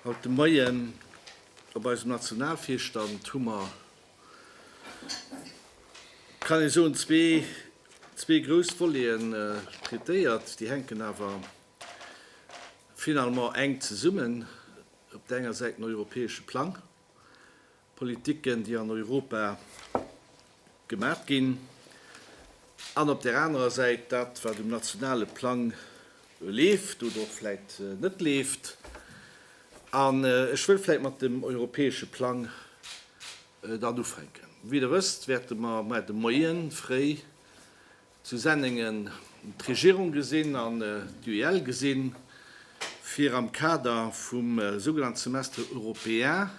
Haut de Moien op eisem Nationalvirstand hu mer, kann ee soen, zwee grouss Voleten traitéiert. Déi hänken awer Finalement enk zesummen, op der enger Säit den europäesche Plang, Politiken, déi an Europa gemaat ginn, an op der anerer Säit dat, wat um nationale Plang leeft oder och vläit net leeft. An ech wëll vläit mat dem europäesche Plang dann ufänken. Wéi Der wësst, wäerte mer de Moien fréi, Zu Senningen d'Regierung gesinn an d'UEL gesinn, fir am Kader vum sougenannten Semestre européen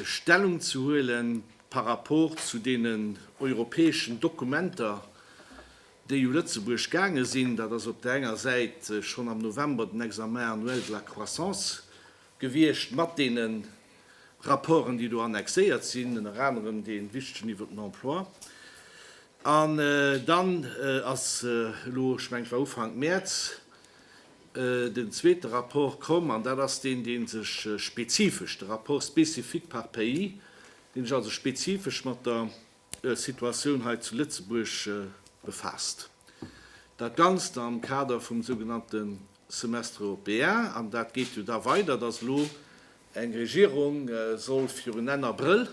Stellung ze huelen par rapport zu deenen europäeschen Dokumenter, déi u Lëtzebuerg gaange sinn. Dat ass op där enger Säit schonn am November den Examen annuel de la croissance gewiescht mat deenen Rapporten, déi do annexéiert sinn, ënner anerem dee wichtegen iwwer den Emploi. An dann ass elo, ech mengen, et war Ufank Mäerz, den zweete Rapport komm, an dat ass deen, dee sech spezifesch, de Rapport spécifique par pays, dee sech also spezifesch mat der Situatioun hei zu Lëtzebuerg befaasst. Dat Ganzt am Kader vum sougenannte Semestre européen, an dat geet jo da weider, datt elo eng Regierung soll virun Enn Abrëll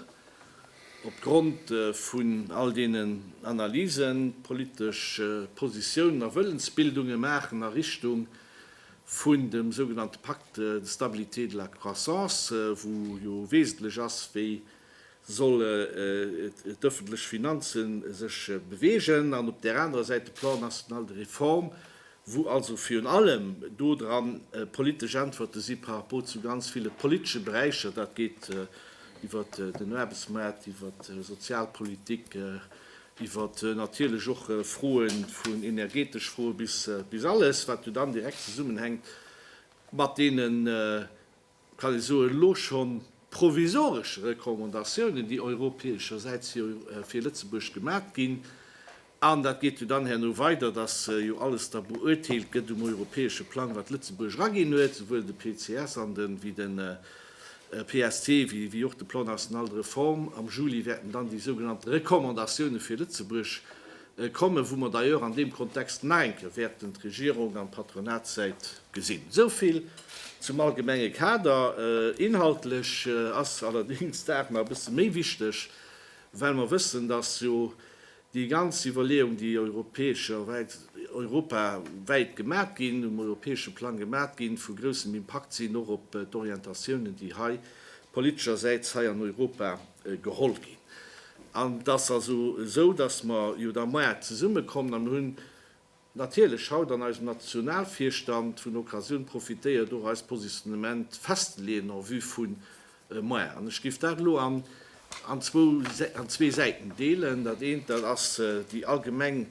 op Grond vun all deenen Analysen d'politesch Positiounen a Wëllensbildunge maachen a Richtung vun dem sougenannte Pacte de stabilité et de la croissance, wou jo wesentlech ass, wéi soll d'ëffentlech Finanze sech beweegen, an op där anerer Säit de Plan national de réforme, wou also virun allem do dran politesch Äntwerte si par rapport zu ganz ville politesche Beräicher, dat geet iwwer den Aarbechtsmaart, iwwer d'Sozialpolitik, iwwer natierlech och Froe vun energetesch Froe bis alles, wat jo dann direkt zesummenhänkt mat deene kann ee soen, elo scho provisoresch Recommandatiounen, déi europäeschersäits jo fir Lëtzebuerg gemat ginn, an dat geet jo dann herno weider, datt jo alles da beurteelt gëtt um europäesche Plang, wat Lëtzebuerg eraginn huet, souwuel de PCS an de wéi de PST wéi och de Plan national de réforme. Am Juli wäerten dann déi sougenannte Recommandatioune fir Lëtzebuerg Kommen, wou mer d'ailleurs an deem Kontext menken, wäerten d'Regierung an d'Patronatssäit gesinn. Esou vill zum allgemenge Kader. Inhaltlech ass allerdéngs d'Saach nach e bësse méi wichteg, well mer wëssen, dass jo déi ganz Iwwerleeung, déi europawäit gemat ginn, um europäesche Plang gemat ginn, vu groussem Impakt sinn, och op d'Orientatiounen, déi hei politeschersäits hei an Europa geholl ginn. An et ass also esou, datt mer jo da moarn zesummekommen, a mir hunn natierlech haut an eisem Nationalvirstand vun der Occasioun profitéiert, och eist Positionnement festzeleeën en vue vu moarn. An ech géif dat elo an zwou, an zwee Säiten deelen. Dat eent, dat ass déi allgemeng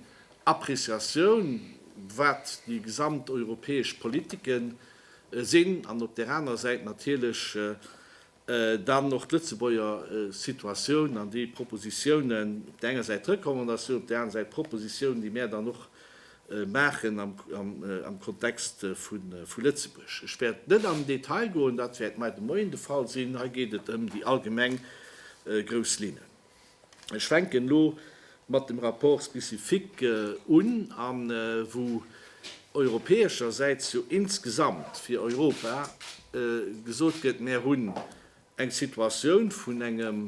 Appréciatioun, wat déi gesamteuropäesch Politiken sinn, an op där anerer Säit natierlech Dann och d'Lëtzebuerger Situatioun an déi Propositiounen, op der enger Säit d'Recommandatiounen, op der aneren Säit d'Propositiounen, déi mär dann och maachen am Kontext vu Lëtzebuerg. Ech wäert net am Detail goen, dat wäert mei de Moien de Fall sinn. Hei geet et ëm déi allgemeng grouss Linnen. Ech fänken elo mat dem Rapport spécifique un, a wou europäeschersäits jo insgesamt fir Europa gesot gëtt, Mär hunn eng Situatioun vun engem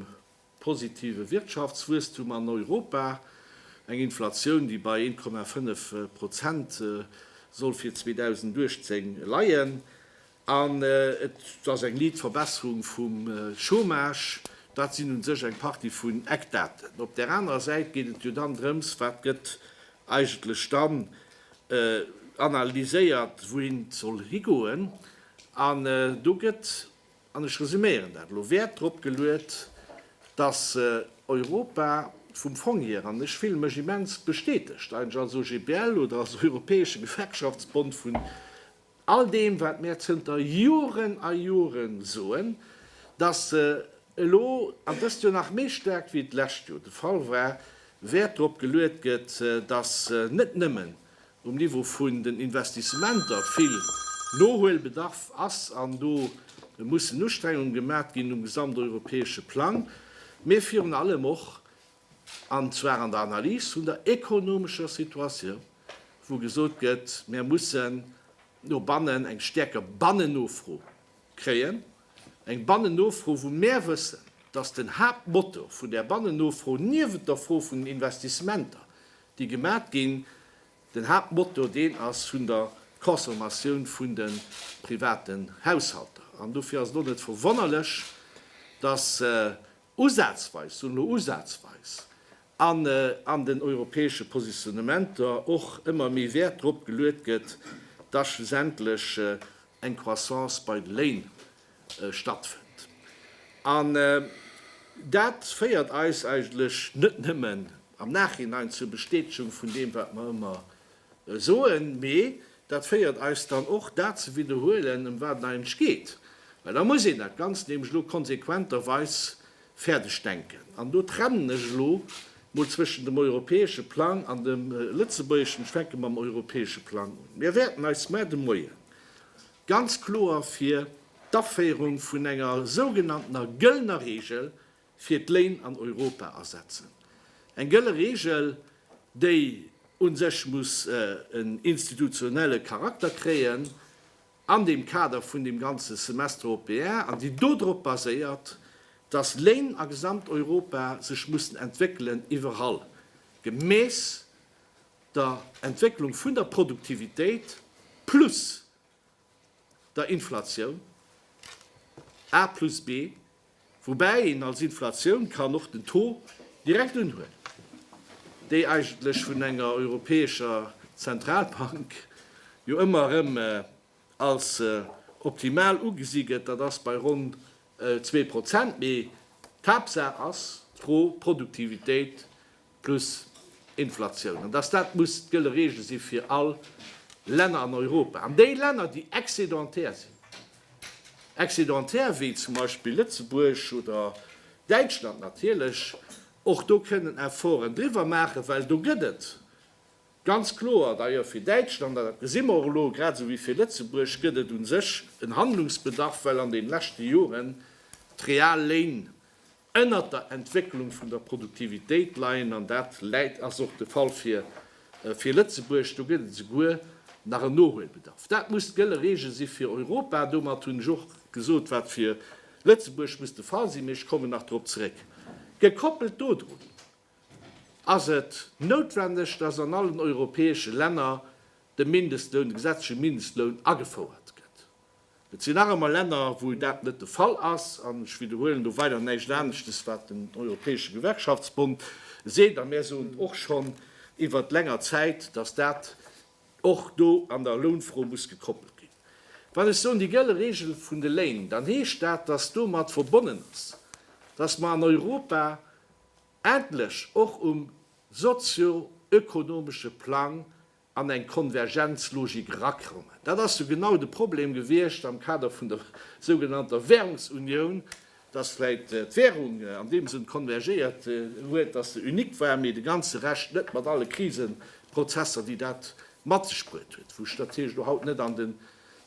positive Wirtschaftswuesstum an Europa, eng Inflatioun, déi bei 1,5 Prozent soll fir 2018 leien. An et ass eng liit Verbesserung vum Chômage. Dat sinn un sech eng Partie vun Eckdaten. Op där anerer Säit geet et jo dann drëms, wat gëtt eigentlech dann analyséiert, wouhin et soll higoen. An do gëtt, an ech resuméieren dat elo, Wäert drop geluet, dass Europa vum Fong hier, an ech fille mech immens bestätegt eigentlech als OGBL oder als europäesche Gewerkschaftsbond vun All deem, wat mär zënter Joren a Joren soen, dass se elo, an dëst Joer nach méi staark wéi d'lescht Joer de Fall war, Wäert drop geluet gëtt, dass net nëmmen um Niveau vun den Investissementer vill Nohuelbedarf ass, an do mussen Ustrengunge gemat ginn um gesamteuropäesche Plang, mee virun allem och an zwar an der Analys vun der ekonomescher Situatioun, wou gesot gëtt, Mir mussen no bannen eng stäerker Bannennofro kréien, eng Bannennofro, wou mär wëssen, dass den Haaptmotor vun där Bannennofro, niewent der Fro vun den Investissementer, déi gemat ginn, den Haaptmotor deen ass vun der Consommatioun vun de privaten Haushalter. An dofir ass et och net verwonnerlech, dass Usazweis, soen elo usazweis, an an den europäesche Positionnementer och ëmmer méi Wäert drop geluet gëtt, dass schlussendlech eng Croissance bei de Léin stattfënnt. An dat féiert eis eigentlech net nëmmen am Nachhinein zur Bestätegung vun deem, wat mer ëmmer Soen, mee dat féiert eis dann och, dat ze widderhuelen, ëm wat et eigentlech geet. Well da muss een dat Ganzt nämlech elo konsequenterweis fäerdeg denken. An do trennen ech elo mol zwëschen dem europäesche Plang an dem lëtzebuergeschen. Ech fänke mam europäesche Plang un. Mir wäerten eis mar de Moie ganz kloer fir d'Aféierung vun enger sougenanntener gëllener Reegel, fir d'Léin an Europa asetzen. Eng gëlle Reegel, déi u sech muss en institutionelle Charakter kréien an dem Kader vun dem ganze Semestre européen an déi do drop baséiert, dass Léin a Gesamteuropa sech mussen entwéckelen, iwwerall gemäss der Entwécklung vun der Produktivitéit plus der Inflatioun, A plus B, woubäi een als Inflatioun kann och den Taux direkt unhuelen, déi eigentlech vun enger europäescher Zentralbank jo ëmmer erëm als optimal ugesi gëtt, dat ass bei ronn zwee Prozent, mee d'Haaptsaach ass d'Pro-Produktivitéit plus Inflatioun, an dass dat muss d'gëlle Regel si fir all Länner an Europa. An déi Länner, déi excédentaire sinn, excédentaire wéi zum Beispill Lëtzebuerg oder Däitschland natierlech, och do kënnen Efforten driwwer maachen, well do gëtt et ganz kloer, d'ailleurs fir Däitschland, an dat gesi mer och elo, grad esou wéi fir Lëtzebuerg, gëtt et u sech en Handlungsbedarf, well an deene leschte Joren d'Real Léin Ënnert der Entwécklung vun der Produktivitéit leien, an dat läit, ass och de Fall fir Lëtzebuerg, do gëtt et esouguer nach en Nohuelbedarf. Dat muss d'gëlle Regel si fir Europa. Domat hunn ech och gesot, wat fir Lëtzebuerg muss de Fall sinn, mee ech kommen nach drop zeréck. Gekoppelt dodrun ass et noutwendeg, dass an allen europäesche Länner de Mindestloun, de gesetzleche Mindestloun agefouert gëtt. Et sinn nach ëmmer Länner, wou dat net de Fall ass. An ech widderhuelen do weider näischt aneschtes, wat den Europäesche Gewerkschaftsbond seet. A mär soen och schonn iwwert länger Zäit, datt dat och do an der Lounfro muss gekoppelt ginn. Wann ech soen déi gëlle Regel vun de Léin, dann heescht dat, datt domat verbonnen ass, datt mer an Europa endlech och um sozio-ökonomesche Plang an eng Konvergenzlogik erakommen. Dat ass jo genau de Problem gewiescht am Kader vun der sougenannter Währungsunioun, dass vläicht d'Währung an deem Sënn konvergéiert huet, dass se unique war, mee de ganze Rescht net, mat alle Kriseprozesser, déi dat mat sech bruet huet, wou ech natierlech elo haut net an den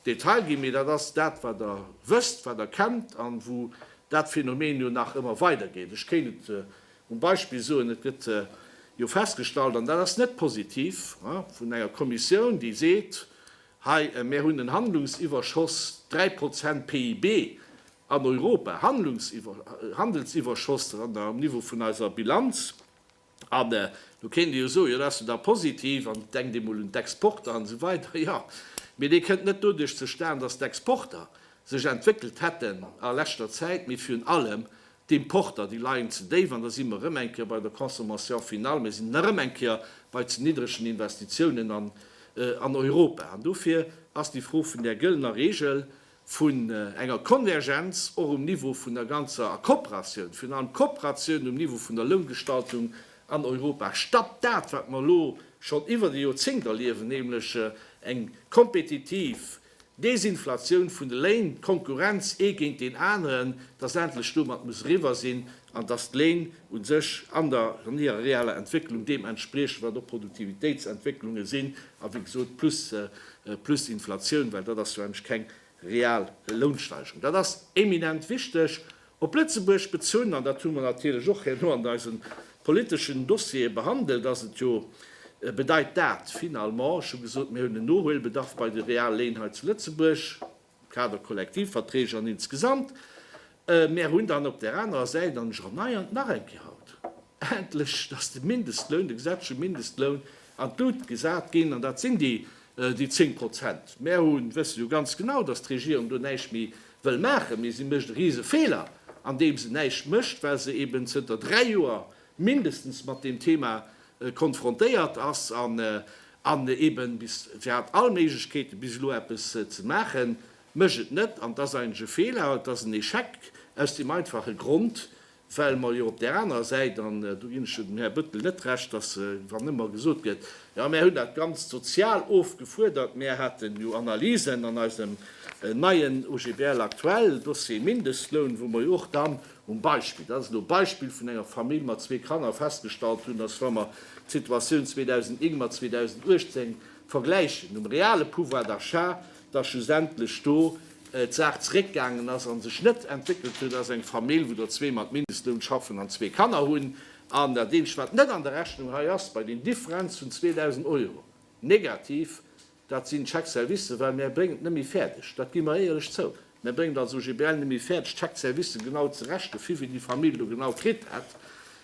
Detail ginn. Mee dat ass dat, wat Der wësst, wat Der kennt an wou dat Phänomen jo nach ëmmer weidergeet. Ech kéint et Um Beispill soen, Et gëtt jo festgestallt, an dat ass net positiv, vun enger Kommissioun, déi seet, Hei, mir hunn en Handlungsiwwerschoss, dräi Prozent PIB an Europa, Handelsiwwerschoss um Niveau vun eiser Bilanz. An do kéint ee jo soen, Jo, dat ass jo da positiv, an denkt ee mol un d'Exporter an esou weider. Jo, mee dee kënnt net doduerch zustan, datt d'Exporter sech entwéckelt hätten a leschter Zäit, mee virun allem, D'Importer, déi leien ze déif an da si mer erëm eng Kéier bei der Consommation finale. Mir sinn erëm eng Kéier bei ze niddregen Investitiounen an Europa. An dofir ass déi Fro vun där gëllener Regel, vun enger Konvergenz och um Niveau vun der ganzer, a Kooperatioun, virun allem Kooperatioun um Niveau vun der Loungestaltung an Europa, statt dat, wat mer elo schonn iwwert e Joerzéngt erliewen, nämlech eng kompetitiv D'Desinflatioun vun de Léin, d'Konkurrenz ee géint deen aneren, dass endlech domat muss eriwwer sinn an dass d'Léin u sech an der an hirer reeller Entwécklung deem entspriechen, wat och Produktivitéitsentwécklunge sinn a wéi gesot plus plus Inflatioun, well dat ass jo eigentlech keng real Lounsteigerung. Dat ass eminent wichteg Op Lëtzebuerg bezunn, an dat hu mer natierlech och herno an eisen politeschen Dossiere behandelt, ass et jo, bedeit dat finalement, ech hu gesot, mir hunn en Nohuelbedarf bei de Realléin hei zu Lëtzebuerg, Kaderkollektivverträge an insgesamt, mir hunn dann op där anerer Säit, an ech erneiern nach eng Kéier haut endlech, dass de Mindestloun, de gesetzleche Mindestloun an d'Lut gesat ginn, an dat sinn déi zéng Prozent. Mir hu wësse jo ganz genau, dass d'Regierung do näischt méi wëll maachen, mee si mécht e rise Feeler andeem se näischt mécht, well se eben zënter dräi Joer mindestens mat deem Thema konfrontéiert ass an eben bis, se hat all Méiglechkeeten bis elo eppes ze maachen, mécht et net. An et ass eigentlech e Feeler, et ass en Échec aus deem einfache Grond, Well mer jo op där anerer Säit, an do ginn ech jo dem Här Bëttel net Recht, datt wann ëmmer gesot gëtt, jo mär hunn dat Ganzt sozial ofgefuerdert, mär haten jo Analysen an eisem neien OGBL aktuell, Dossier Mindestloun, wou mer jo och dann um Beispill, dat ass elo e Beispill, vun enger Famill mat zwee Kanner festgestallt hunn, datt wa mer d'Situatioun 2009 mat 2018 vergläichen, um reale Pouvoir d'achat, dass schlussendlech do d'Saach zeréckgaangen ass a sech net entwéckelt huet als eng Famill, wou der zwee mat Mindestloun schaffen an zwee Kanner hunn. An dat eenzegt, wat net an der Rechnung hei ass bei den Differenz vun 2.000 Euro negativ, dat sinn d'Chèques-services, well mär bréngen et net méi fäerdeg, dat gi mer éierlech zou, mär bréngen et als OGBL net méi fäerdeg, d'Chèques-services genau ze rechnen, viwéi déi Famill do genau kritt hätt.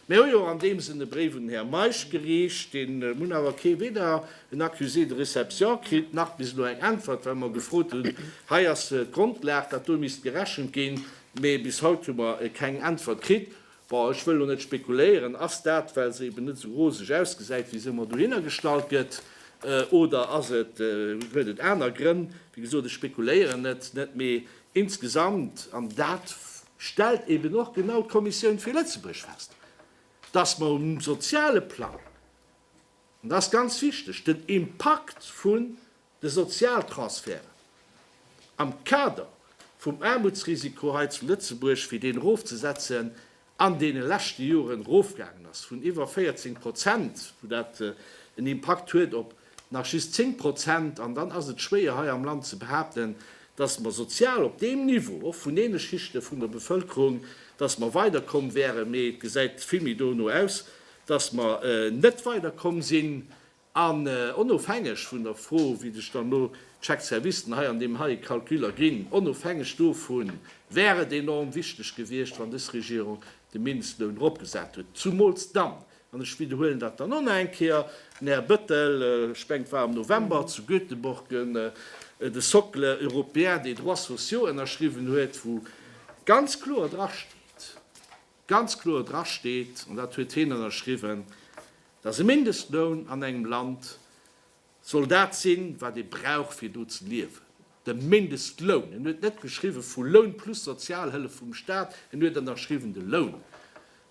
Mir hu jo an deem Sënn e Bréif un den Här Meisch gereecht, dee mun awer kee, weder en Accusé de réception kritt, nach bis elo eng Äntwert, well mer gefrot hunn, hei ass d'Grondlag, dat do misst gerechent ginn, mee bis haut hu mer keng Äntwert kritt. Bon, ech wëll elo net spekuléieren, ass dat, well se eben net esou roseg ausgesäit, wéi se ëmmer dohinner gestallt gëtt, oder ass et, huet et aner Grënn? Wéi gesot, ech spekuléieren net, net, mee insgesamt, an dat stellt eben och genau d'Kommissioun fir Lëtzebuerg fest, dass mer um soziale Plang, an dat ass ganz wichteg, den Impakt vun de Sozialtransferten am Kader vum Aarmutsrisiko hei zu Lëtzebuerg, fir deen erofzesetzen, an deene leschte Joren erofgaangen ass vun iwwer 14 Prozent, wou dat en Impakt huet op nach just 10 Prozent, an dann ass et schwéier hei am Land ze behaapten, datt mer sozial op deem Niveau, och vun deene Schichte vun der Bevëlkerung, datt mer weider komm wären, mee et gesäit vill méi dono aus, datt mer net weider komm sinn. An onofhängeg vun der Fro, wéi sech dann elo d'Chèques services hei an deem heie Calcul erginn, onofhängeg dovu wär et enorm wichteg gewiescht, wann dës Regierung de Mindestloun eropgesat huet, zumools dann, An ech widderhuelen dat dann och nach eng Kéier, den Här Bettel, ech mengen et war am November, zu Göteborg de Socle européen des droits sociaux ënnerschriwwen huet, wou ganz kloer drasteet, ganz kloer drasteet, an dat huet hien ënnerschriwwen, dass e Mindestloun an engem Land Soll dat sinn, wat ee brauch fir do ze liewen? De Mindestloun, en huet net geschriwwen, vu Loun plus Sozialhëllef vum Staat, en huet ënnerschriwwen de Loun.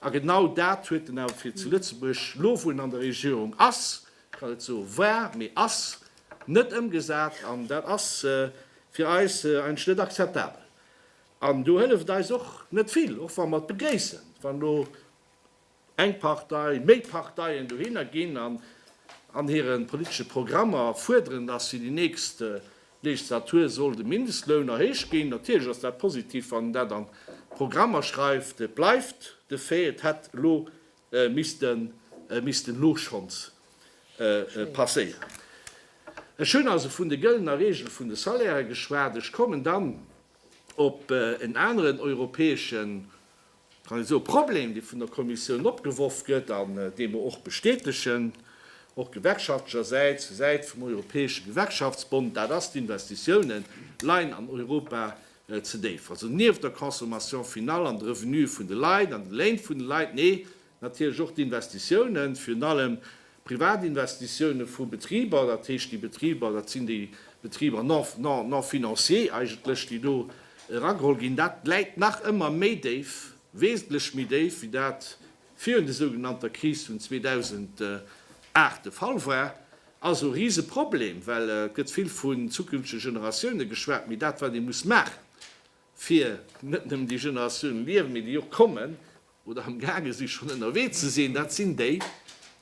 A genau dat huet en awer fir zu Lëtzebuerg, elo wou en an der Regierung ass, ech kann net soen, war, mee ass, net ëmgesat. An dat ass fir eis eigentlech net akzeptabel. An do hëlleft et eis och net vill, och wa mer et begréissen, wann elo Eng Partei, méi Parteien dohinner ginn an an hire politesche Programmer fuerderen, datt fir déi nächst Legislatur soll de Mindestloun erhéicht ginn. Natierlech ass dat positiv, wann een dat an d'Programmer schreift. Et bleift de Fait, et hätt elo misste misste elo schonns passéieren. Ech hunn also vun de gëllener Regel vun de Salairen geschwat. Ech kommen dann op en aneren europäeschen Also e Problem, dee vun der Kommissioun opgeworf gëtt an dee mer och bestätegen, och gewerkschaftlechersäits, zur Säit vum Europäesche Gewerkschaftsbond, dat ass, D'Investitiounen leien an Europa ze déif. Also nieft der Consommation finale an de Revenuë vun de Leit an de Léin vun de Leit, nee, Natierlech och d'Investitiounen, virun allem d'Privatinvestitioune vu Betriber, dat heescht déi Betriber, dat sinn déi Betriber non financiers eigentlech, déi do erageholl ginn, dat läit nach ëmmer méi déif, wesentlech méi déif, wéi dat virun de sougenannter Kris vun 2008 de Fall war. Also e Riseproblem, well et gëtt vill vun zukünftege Generatioune geschwat, mee dat, wat ee muss maachen, fir net nëmmen déi Generatiounen liewen, mee déi och kommen oder am gaange si schonn ënnerwee ze sinn, dat sinn déi,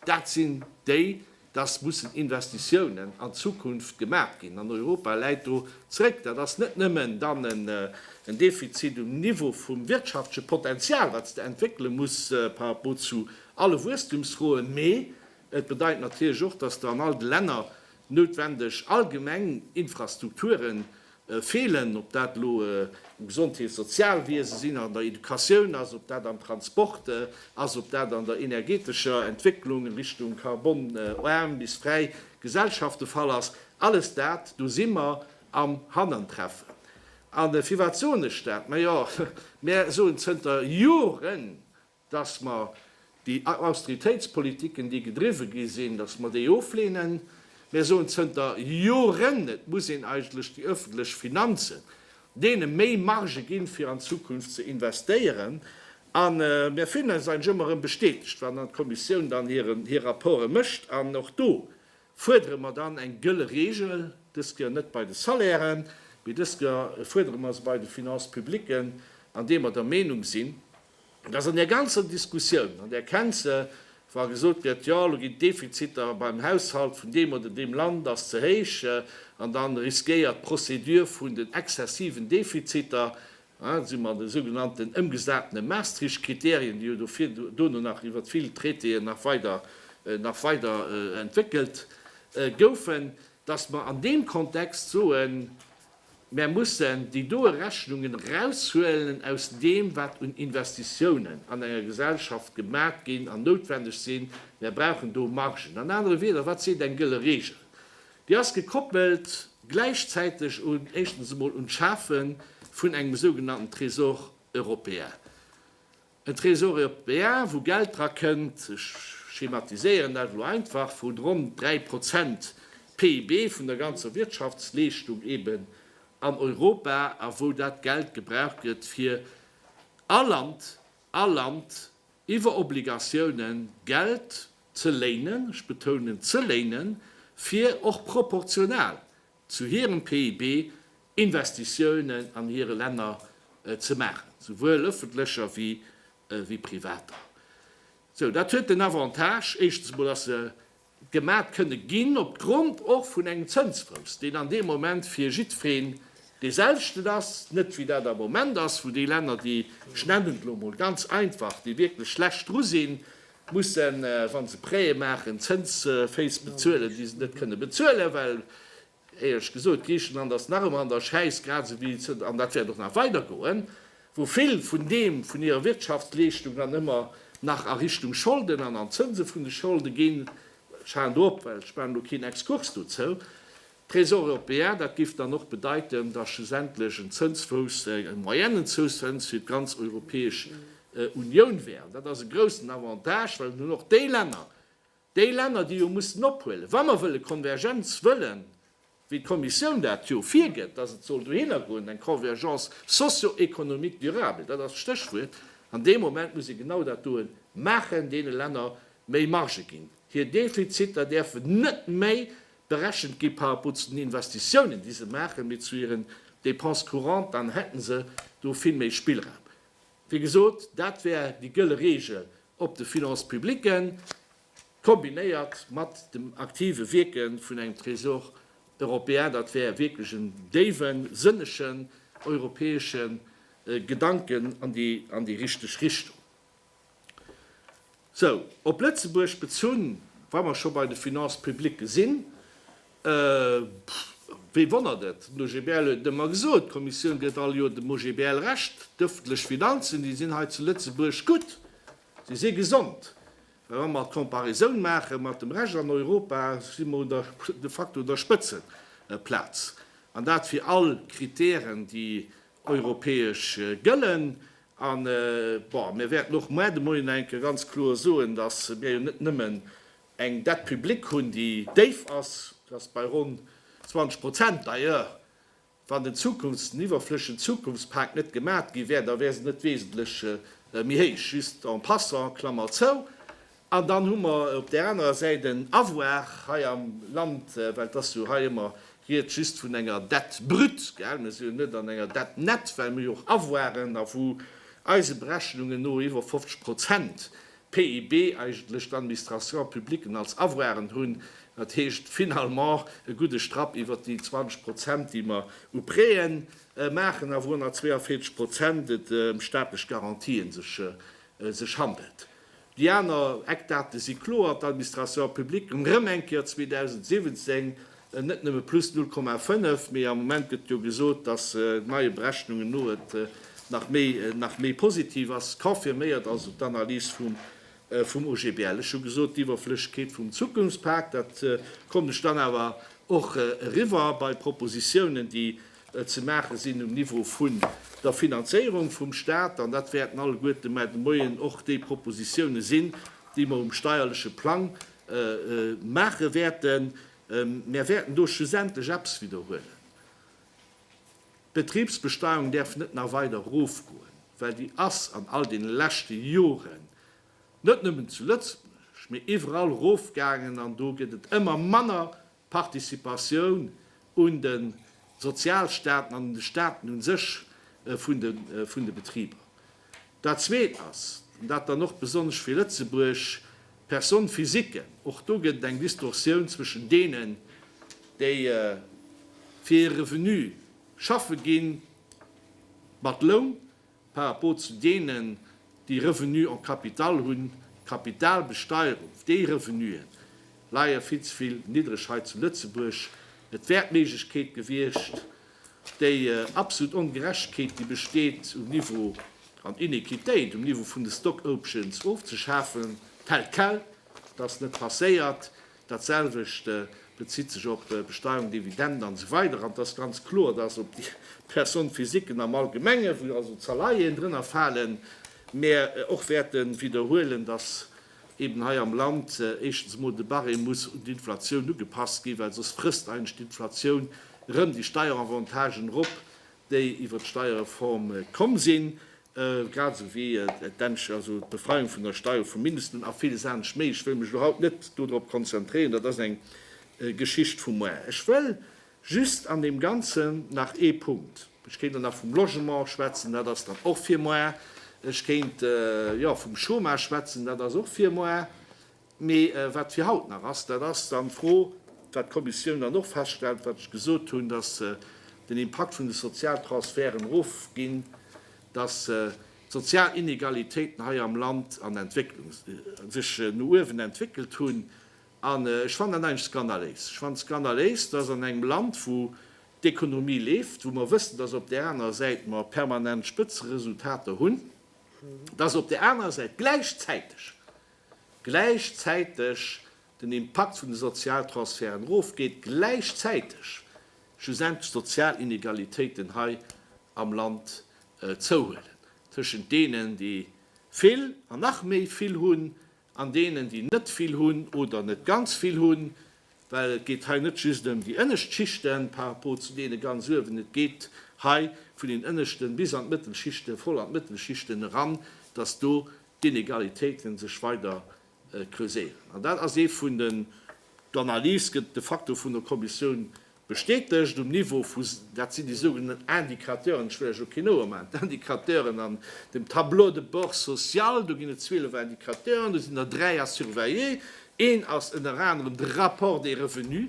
dat sinn déi, dass mussen Investitiounen an d'Zukunft gemaach ginn. An Europa läit do zréck. Dat ass net nëmmen dann en Defizit um Niveau vum wirtschaftleche Potenzial, wat sech do entwéckele muss par rapport zu alle Wuesstumsfroen, mee et bedeit natierlech och, dass do an all de Länner noutwendeg allgemeng Infrastrukturen Feelen, ob dat elo um Gesondheets Sozialwiese sinn, an der Educatioun ass, ob dat am Transport ass, ob dat an der energeetescher Entwécklung a Richtung carbon-aarm bis fräi Gesellschaft de Fall ass, alles dat, do si mer am Hanantreffen. A firwat soen ech dat? Majo, mär soen zënter Joren, dass mer déi Austeritéitspolitiken, déi gedriwwe gi sinn, dass mer déi oflehnen. Mir soen zënter Joren, et muss een eigentlech déi öffentlech Finanzen, deene méi Marge ginn, fir an d'Zukunft ze investéieren. A mir fillen eis eigentlech ëmmer erëm bestätegt, wann dann d'Kommissioun dann hir Rapporte mécht. An och do fuerdere mer dann eng gëlle Regel, dës Kéier net bei de Salairen, mee dës Kéier fuerdere mer se bei de Finances publiques, an deem mer der Meenung sinn, Dass an där ganzer Diskussioun, an där kennt se, wa gesot gëtt, jo elo ginn d'Defiziter beim Haushalt vun deem oder deem Land ass ze héich an da riskéiert d'Procédure vun den exzessiven Defiziter, da si mer an de sougenannten ëmgesatene Maastricht-Kriterien, déi jo do vir dono nach iwwert vill Traitéen nach weider nach weider entwéckelt goufen, dass mer an deem Kontext soen, Mär mussen déi doe Rechnungen eraushuelen aus deem, wat un Investitiounen an enger Gesellschaft gemat ginn an noutwendeg sinn. Mär brauchen do Margen. An anere Wieder, wat seet eng gëlle Reegel? Déi ass gekoppelt gläichzäiteg un, éischtens emol un d'Schafe vun engem sougenannten Trésor européen. En Trésor européen, wou Geld dra kënnt, ech schematiséieren dat elo einfach, wou ronn 3 Prozent PIB vun der ganzer Wirtschaftsleeschtung eben an Europa, a wou dat Geld gebraucht gëtt, fir all Land, all Land iwwer Obligatiounen Geld ze léinen, ech betounen ze léinen, fir och proportional zu hirem PIB Investitiounen an hire Länner ze maachen, souwuel ëffentlecher wéi privater. Sou, dat huet den Avantage, éischtens emol, dass se gemat kënne ginn opgrond och vun engem Zënsfrous, deen an deem Moment fir jiddwereen dee selwechten ass, net wéi dat am Moment ass, wou déi Länner, déi, ech nennen et elo emol ganz einfach, déi wierklech schlecht dru sinn, mussen, wa se Prêtë maachen, Zënsféiss bezuelen, déi se net kënne bezuelen, well, éierlech gesot, Griichenland ass nach ëmmer an der Schäiss, grad esou wéi se, an dat wäert och nach weidergoen, wou vill vun deem, vun hirer Wirtschaftsleeschtung dann ëmmer nach a Richtung Scholden an an d'Zënse vun de Scholde ginn. Ech halen do op, well ech maachen elo keen Exkurs dozou. Trésor européen, dat géif dann och bedeiten, datt schlussendlech en Zënsfouss, e moyennen Zoussëns fir d'ganz Europäesch Unioun wär. An dat ass e groussen Avantage, well et hunn och déi Länner, déi Länner, déi jo mussen ophuelen, wa mer wëlle Konvergenz wëllen, wéi d'Kommissioun dat jo virgëtt, datt et soll dohinner goen, eng Convergence socio-économique durable, dat ass d'Stéchwuert, an dee Moment muss ee genau dat doe maachen, deene Länner méi Marge ginn, hir Defiziter däerfen net méi berechent gi par rapport zu den Investitiounen, déi se maachen, mee zu hiren Dépenses courantes, dann hätte se do vill méi Spillraum. Wéi gesot, dat wär déi gëlle Reegel op de Finances publiques, kombinéiert mat dem aktive Wierke vun engem Trésor européen. Dat wär wierklech en déiwe, sënnegen europäesche Gedanken an déi richteg Richtung. Sou, op Lëtzebuerg bezunn, wa mer scho bei de Finances publiques sinn, wee wonnert et, den OGBL huet et ëmmer gesot, d'Kommissioun gëtt all Joer dem OGBL Recht, d'ëffentlech Finanzen, déi sinn hei zu Lëtzebuerg gutt, se si gesond. Mä wa mer d'Comparaison maache mat dem Rescht an Europa, si mer de facto un der Spëtzeplaz, an dat fir all Kritären, déi europäesch gëllen. A bon, mir wäerten och moar de Moien enke ganz kloer soen, dass mir jo net nëmmen eng Dette publique hunn, déi déif ass, dat ass bei ronn 20 Prozent, d'ailleurs, wann den Zukunfts-, den iwwerflëschen Zukunftspak net gemat gi wär, da wär se net wesentlech méi héich, just en passant, Klammer zou. An dann hu mer op där anerer Säit en Avoir hei am Land, well et ass jo hei ëmmer Ried just vun enger Dette brute, gell, mir sinn jo net an enger Dette nette, well mir jo och Avoiren a wou eise Berechnungen no iwwer 50 Prozent PIB eigentlech d'Administrations publiquen als Avoiren hunn. Dat heescht finalement e gudde Strapp iwwer déi 20 Prozent, déi mer u Prêten maachen a wou 142 Prozent et ëm staatlech Garantien sech handelt. Déi aner Eckdate si kloer, D'Administration publique rëm eng Kéier 2017 net nëmme plus 0,5, mee am Moment gëtt jo gesot, datt neie Berechnungen no et nach méi nach méi positiv ass. Confirméiert also d'Analys vum vum OGBL. Ech hu gesot, d'Iwwerflëssegkeet vum Zukunftspak, dat kommt ech dann awer och eriwwer bei Propositionen, déi ze maache sinn um Niveau vun der Finanzéierung vum Stat, an dat wäerten alleguerte mar de Moien och déi Propositionen sinn, déi mer um steierleche Plang maache wäerten. Mer wäerten do schlussendlech eppes widderhuelen. D'Betriebsbesteuerung däerf net nach weider erofgoen, well déi ass an all deene leschte Joren, net nëmmen zu Lëtzebuerg, mee iwwerall erofgaangen, an do gëtt et ëmmer manner D'Participatioun un de Sozialstaaten an un de Staaten u sech vun de Betriber. Dat Zweet ass, an dat dann och besonnesch fir Lëtzebuerg, d'Personne physique. Och do gëtt et eng Distorsioun zwëschen deenen, déi fir e Revenu schaffe ginn, mat Loun, par rapport zu deenen, déi Revenue en capital hunn, d'Kapitalbesteierung, déi Revenuë leie vill ze vill niddreg hei zu Lëtzebuerg. Et wär d'Méiglechkeet gewiescht, déi absolut Ongerechtegkeet, déi besteet um Niveau, an Inequitéit um Niveau vun de Stock-Options ofzeschafen, tel quel. Dat ass net passéiert. Dat selwecht bezitt sech op Besteuerung, Dividenden an esou weider An et ass ganz kloer, dass op déi Personnes physiques am Allgemenge, wou also d'Salaien drënner falen, mär och wäerte widderhuelen, dass eeben hei am Land éischtens emol de Barème muss un d'Inflatioun ugepasst ginn, well soss frësst eigentlech d'Inflatioun erëm déi Steieravantagen erop, déi iwwert d'Steierreform komm sinn. grad esou wéi d'Befreiung vun der Steier vum Mindestloun a villes anescht méi. Ech wëll mech elo haut net dodrop konzentréieren, dat ass eng Geschicht vu moar. Ech wëll just an deem Ganzen nach ee Punkt, ech kéint dann nach vum Logement schwätzen, dat ass dann och fir moar, ech kéint, jo, vum Chômage schwätzen, dat ass och fir moar. Mee wat fir haut nach ass, dat ass dann d'Fro, wat d'Kommissioun dann och feststellt, wat ech gesot hunn, dass den Impakt vun de Sozialtransferten erofginn, dass d'sozial Inegalitéiten hei am Land an Entwécklung sech no uewen entwéckelt hunn. An ech fannen dat eigentlech skandaléis. Ech fannen skandaléis, dass an engem Land, wou d'Ekonomie leeft, wou mer wëssen, dass op där anerer Säit mer permanent Spëtzeresultater hunn, dass op där anerer Säit gläichzäiteg gläichzäiteg den Impakt vun de Sozialtransferten erofgeet, gläichzäiteg schlussendlech d'sozial Inegalitéiten hei am Land zouhuelen, tëschent deenen, déi vill an nach méi vill hunn, an deenen, déi net vill hunn oder net ganz vill hunn, well et geet hei net just ëm déi ënnescht Schichten par rapport zu deene ganz uewen, et geet hei vun den ënneschten bis an d'Mëttelschichten, voll an d'Mëttelschichten eran, dass do d'Inegalitéiten sech weider creuséieren. An dat ass ee vun den, d'Analys gëtt de facto vun der Kommissioun bestätegt, um Niveau vu, dat sinn déi sougenannten Indicateuren, ech wëll lech elo keen Ouer maachen, d'Indicateuren an dem Tableau de bord social, do ginn et 12 Indicateuren, do sinn der dräi à surveiller, een ass ënner anerem de Rapport des revenus,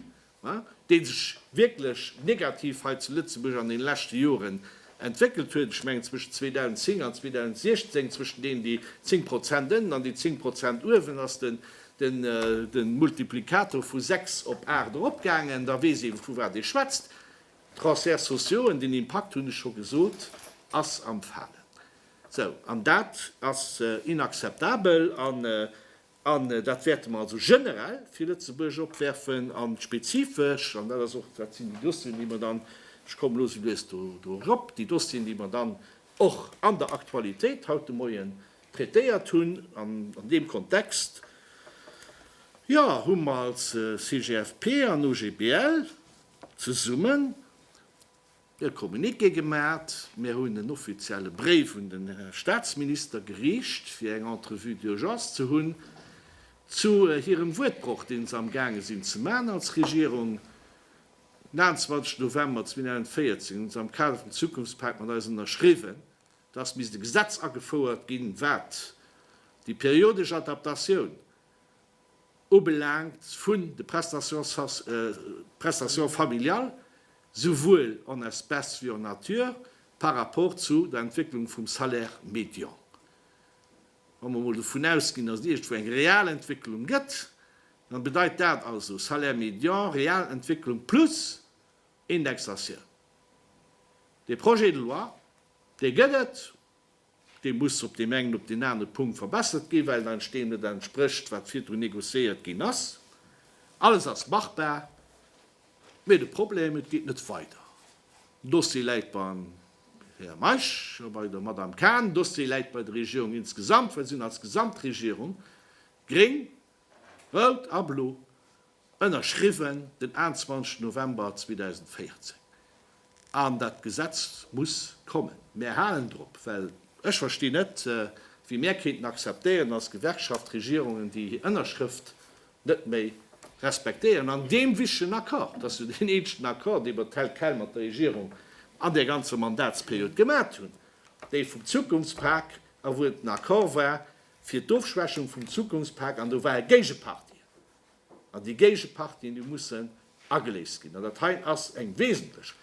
dee sech wierklech negativ hei zu Lëtzebuerg an deene leschte Joren entwéckelt huet, ech mengen zwëschen 2010 an 2016, zwëschen deenen déi 10 Prozent ënnen an déi 10 Prozent uewen, ass de Multiplikator vu 6 op 8 eropgaangen, da weess ee vu wat ee schwätzt. D'Transferts sociaux en den Impakt, hunn ech scho gesot, ass am Falen. Sou, an dat ass inakzeptabel. An dat wäerte mer also generell fir Lëtzebuerg opwerfen a spezifesch, an dat ass och, dat sinn déi Dossieren, déi mer dann, ech kommen elo esou lues do erop, déi Dossieren, déi mer dann och an der Aktualitéit haut de Moien traitéiert hunn. An an deem Kontext, jo, hu mer als CGFP an OGBL zesummen, e Communiqué gemaacht, mir hunn en offizielle Bréif un den Här Staatsminister geriicht, fir eng Entrevue d'urgence ze hunn zu hirem Wuertbroch, deen se amgaange sinn ze maachen als Regierung. Den 28 November 2014 hunn se am Kader vum Zukunftspak mat eis ënnerschriwwen, dass misst e Gesetz agefouert ginn, wat déi periodesch Adaptatioun ubelaangt vun de Prestations familiales, souwuel en espèces wéi en nature, par rapport zu der Entwécklung vum Salaire médian. Wa mer emol dovun ausginn, dass et iergendwou eng real Entwécklung gëtt, da bedeit dat also Salaire médian, real Entwécklung plus Indexatioun. Dee Projet de loi, dee gëtt et, Dee muss op deem engen, op deen anere Punkt verbessert ginn, well et eis deem net entsprécht, wat virdrun négociéiert ginn ass. Alles ass machbar, mee de Problem, et geet net weider. Den Dossier läit beim Här Meisch a bei der Madame Cahen. Den Dossier läit bei der Regierung insgesamt, well si sinn als Gesamtregierung, gréng, Rout a Blo, ënnerschriwwen den 21 November 2014. An dat Gesetz muss kommen. Mär halen drop, well ech verstinn net, wéi mär kéinten akzeptéieren, dass Gewerkschaft, Regierungen, déi hir Ënnerschrëft net méi respektéieren an deem wichtegen Accord, et ass jo deen eenzegen Accord, dee mer tel quel mat der Regierung an där ganzer Mandatsperiod gemat hunn, dee vum Zukunftspak a wou et en Accord war, fir d'Ofschwächung vum Zukunftspak an do ware Géigepartien an déi Géigepartien, déi mussen ageléist ginn an dat hei ass eng wesentlech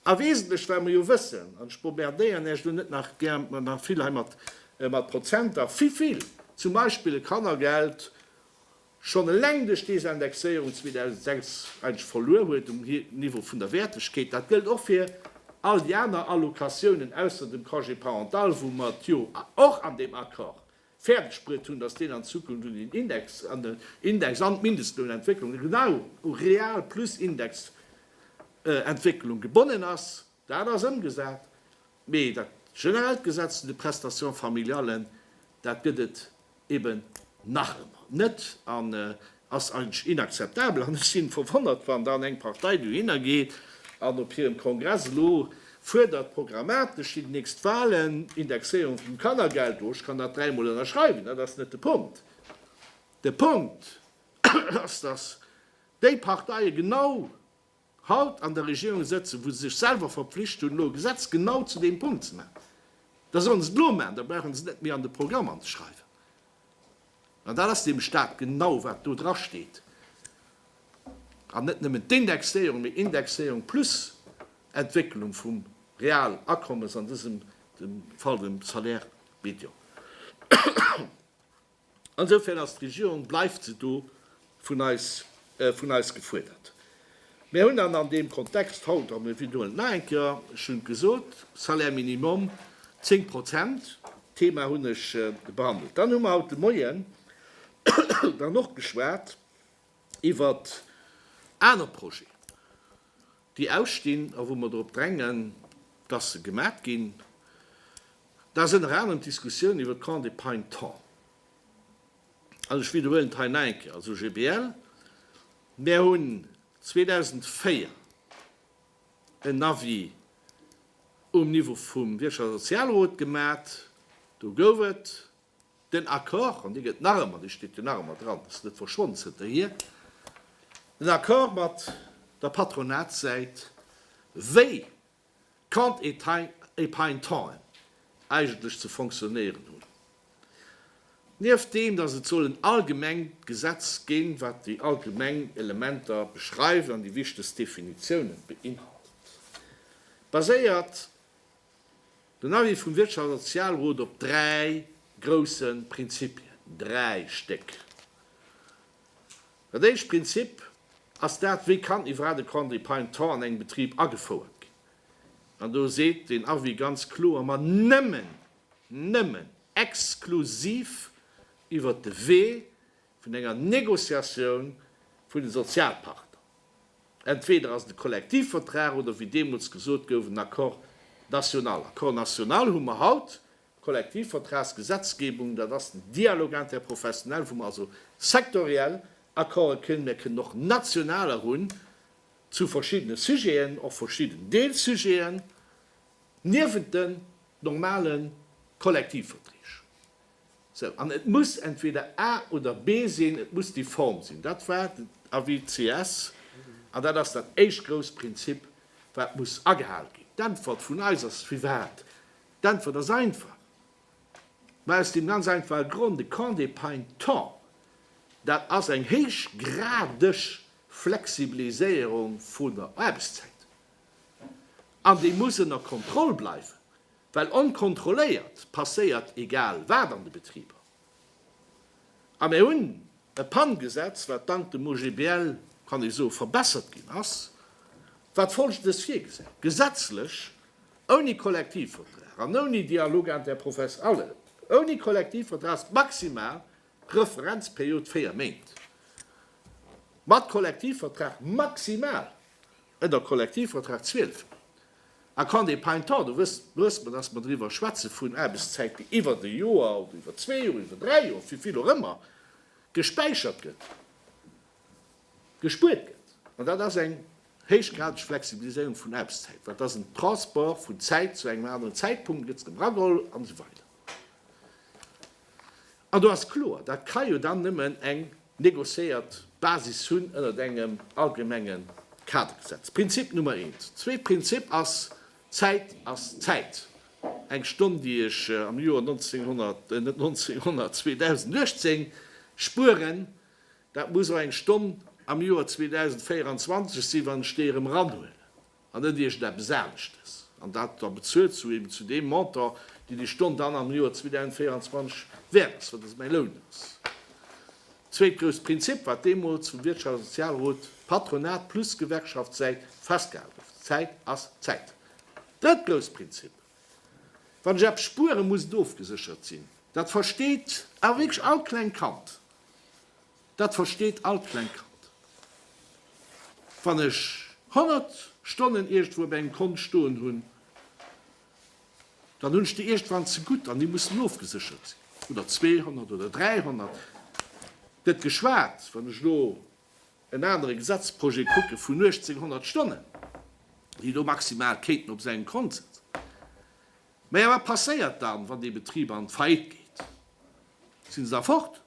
a wesentlech, well mer jo wëssen, an ech bombardéieren Äech elo net nach gär nach vill hei mat Prozenter, wéi vill zum Beispill e Kannergeld schonn eleng duerch Désindexéierung 2006 eigentlech verluer huet um Niveau vun der Wäertegkeet. Dat gëllt och fir all déi aner Allocatiounen, ausser dem Congé parental, wou mer et jo och an deem Accord fäerdegbruet hunn, dass deen an Zukunft un den Index, an den Index an d'Mindestlounentwécklung, genau u real plus Indexentwécklung gebonnen ass. Dat ass ëmgesat. Mee dat generellt Gesetz zu de Prestations familiales, dat gëtt et eben nach ëmmer net an ass eigentlech inakzeptabel. An ech sinn verwonnert, wann dann eng Partei dohinner geet an op hirem Kongress elo fuerdert, programmatesch fir déi nächst Wahlen, Indexéierung vum Kannergeld, oh, ech kann dat dräi Mol ënnerschreiwen, dat ass net de Punkt. De Punkt ass, dass déi Parteien genau haut an der Regierung sëtzen, wou se sech selwer verpflicht hunn, elo e Gesetz genau zu deem Punkt ze maachen, da sollen se et elo maachen, da brauche se et net méi an de Programm anzeschreiwen. An dat ass deem Stat genau, wat do drasteet, an net nëmmen d'Indexéierung, mee Indexéierung plus Entwécklung vum Realakommes, an dësem Fall dem Salaire médian. Insofern ass d'Regierung, bleift se do, vun eis, vun eis gefuerdert. Mir hunn dann an deem Kontext haut, an wiederhuelen et nach eng Kéier, ech hunn et gesot, Salaire minimum, zéng Prozent, d'Thema hunn ech behandelt. Dann hu mer haut de Moien dann och geschwat iwwert aner Projeten. déi ausstinn a wou mer drop drängen, dass se gemat ginn, dat ass ënner anerem d'Diskussioun iwwert d'Camps de Pine Temps. An ech widderhuelen et hei nach eng Kéier, als OGBL, Mär hunn 2004 en Avis um Niveau vum Wirtschafts a Sozialrot gemat, do gouf et, Den Accord, an dee gëtt nach ëmmer, dee steet jo nach ëmmer dran, ass net verschwonn zënterhier, den Accord mat der Patronatssäit, wéi Quant et à Pain Temps eigentlech ze fonctionnéieren hunn, nieft deem, datt et soll en allgemengt Gesetz ginn, wat déi allgemeng Elementer beschreift an déi wichtegst Definitiounen beinhaltet, baséiert. Den Avis vum Wirtschafts a Sozialrot op dräi grousse Prinzipien, dräi Stéck. Dat éischt Prinzip ass dat, wéi kann iwwerhaapt e Congé Prime Temps an engem Betrib agefouert ginn? An do seet den Avis ganz kloer, ma nëmmen, nëmmen, exklusiv iwwert de Wee vun enger Négociatioun vun de Sozialpartner, entweder ass et e Kollektivvertrag oder, wéi deemools gesot gouf, en Accord national. Accord national hu mer haut, Kollektivvertragsgesetzgebung, dat ass den Dialogue interprofessionnel, wou mer also sektoriell Accorde kënnen, mir kënnen och nationaler hunn zu verschiddene Sujeten, och verschidden Deelsujeten, niewent den normale Kollektivverträg. Sou, an et muss entweder A oder B sinn, et muss déi Form sinn. Dat war den Avis CS, an dat ass dat éischt grousst Prinzip, wat muss agehal ginn. D'Äntwert vun eis ass, firwat? D'Äntwert ass einfach, mä aus deem ganz einfache Grond, de Camp des Paintons, dat ass eng héichgradeg Flexibiliséierung vun der Aarbechtszäit, an déi muss ënner Kontroll bleiwen. Well onkontrolléiert passéiert egal wat an de Betriber. A mir hunn e Panngesetz, wat dank dem OGBL, kann ee soe, verbessert ginn ass, wat Folgendes virgesäit, Gesetzlech, ouni Kollektivvertrag an ouni Dialogue interprofes ale, ouni Kollektivvertrag ass d'maximal Referenzperiod véier Méint, mat Kollektivvertrag maximal Et a Kollektivvertrag 12 a quand des paintants, do wësst wësst mer, dass mer driwwer schwätze vun Aarbechtszäiten iwwert e Joer oder iwwert zwee Joer, iwwert dräi Joer, wéi vill och ëmmer, gespäichert gëtt, gespuert gëtt. An dat ass eng héichgradeg Flexibiliséierung vun Aarbechtszäit, well et ass en Transport vun Zäit zu engem aneren Zäitpunkt, et gëtt se erëm erageholl an esou weider. An do ass kloer, dat ka jo dann nëmmen eng negociéiert Basis hunn ënnert engem allgemenge Kadergesetz. Prinzip Nummer eent. Zweet Prinzip ass, Zäit ass Zäit. Eng Stonn, déi ech am Joer 1900, net 1900, 2018 spueren, dat muss och eng Stonn am Joer 2024 sinn, wann ech déi erëm eranhuelen. an net iergend eppes aneschtes, an dat da bezuelt zu eben zu deem Montant, deen déi Stonn dann am Joer 2024 wäert ass, wat also mäi Loun ass. Zweet grousst Prinzip, wat deemools vum Wirtschafts a Sozialrot, Patronat plus Gewerkschaftssäit, festgehal gouf, Zäit ass Zäit. Drëtt grousst Prinzip, Wann ech eppes spueren, muss et ofgeséchert sinn. Dat versteet awer wierklech all klengt Kand. Dat versteet all klengt Kand. Wann ech 100 Stonnen iergendwou op engem Kont stoen hunn, dann hunn ech déi iergendwann zegutt an déi mussen ofgeséchert sinn. Oder 200 oder 300. Net geschwat, wann ech elo en anere Gesetzprojet kucke vun 1800 Stonnen, déi do maximal kéinten op sengem Kont sitzen. Mä jo, wat passéiert dann, wann dee Betrib an d'Faillite geet? Si se da fort?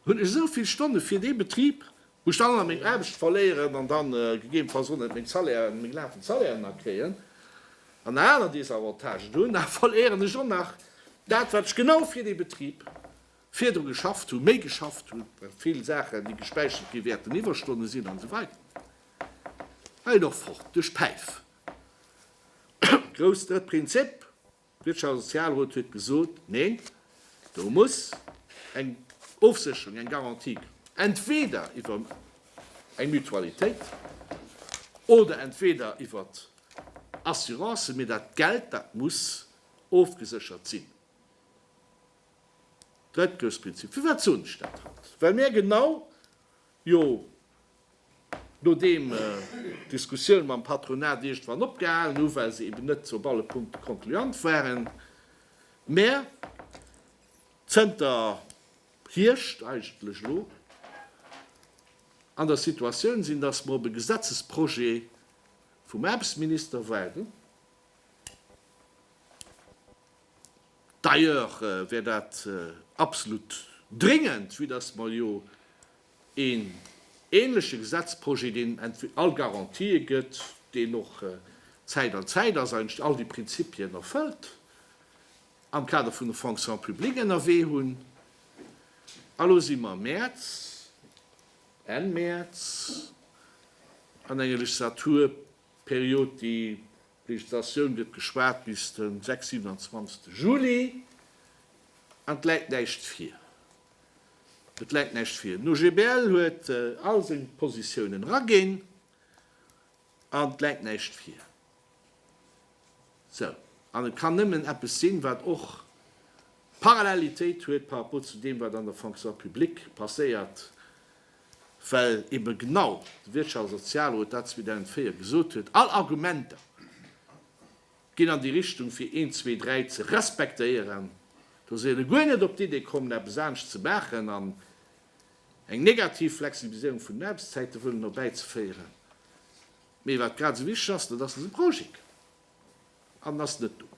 Hunn ech esou vill Stonne fir dee Betrib, wou ech dann meng Aarbecht verléieren an da gegebenfalls och net meng Salairen, meng lafend Salairen nach kréien an nach aner Désavantagen hunn, da verléieren ech och nach dat, wat ech genau fir dee Betrib virdru geschafft hunn, méi geschafft hunn, well vill Saachen, déi gespäichert gi wäerten Iwwerstonne sinn an esou weider. Hei och fort duerch d'Päif. Grouss drëtt Prinzip, D'Wirtschafts a Sozialrot huet gesot, Neen, do muss eng Ofsécherung, eng Garantie kommen. Entweder iwwer eng Mutualitéit oder entweder iwwer Assurancen, mee dat Geld, dat muss ofgeséchert sinn. Drëttgrëftsprinzip. Firwat soen ech dat haut? Well mir genau, jo, Nodeem d'Diskussioune mam Patronat iergendwann opgehalen hu well se eben net op alle Punkte concluant waren, mä zënter Hierscht eigentlech elo an der Situatioun sinn, datt mer op e Gesetzesprojet vum Aarbechtsminister waarden, d'ailleurs wär dat absolut dringend, vue datt mer jo Een ähnleche Gesetzprojet, deen all Garantië gëtt, deen och Zäit an Zäit ass, eigentlech all déi Prinzipien erfëllt, am Kader vun der Fonction publique ënnerwee hunn. A lo si mer Mäerz, Enn Mäerz, an enger Legislaturperiod, déi D'Legislatioun gëtt gespaart bis den 26 Juli an et läit näischt vir. Et läit näischt vir. Den OGBL huet all seng Positiounen eraginn an et läit näischt vir. Sou. An et kann nëmmen eppes sinn, wat och Parallelitéit huet par rapport zu deem, wat an der Fonction publique passéiert, well ebe genau de Wirtschafts a Sozialrot dat 2004 gesot huet, All Argumenter ginn an déi Richtung fir een, zwee, dräi ze respektéieren. Do si elo guer net op d'Idee kommen eppes anescht ze maachen an eng negativ Flexibiliséierung vun den Aarbechtszäite wëllen erbäizeféieren. Mee wat grad esou wichteg ass, dat ass dëse Projekt an ass net do.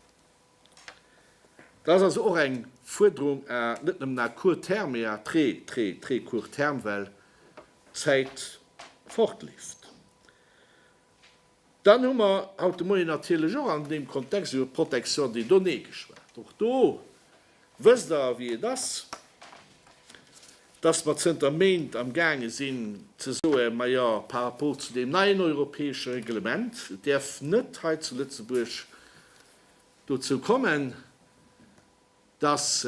Dat ass also och eng Fuerderung à net nëmmen à court terme, mee à très, très, très court terme, well d'Zäit fortleeft. Dann hu mer haut de Moien natierlech och an deem Kontext iwwer d'Protection des données geschwat. Och do wësst Der, wéi et ass, dass mer zënter Méint amgaange sinn ze soen, Majo, par rapport zu deem neien europäesche Reglement, et däerf net hei zu Lëtzebuerg dozou kommen, dass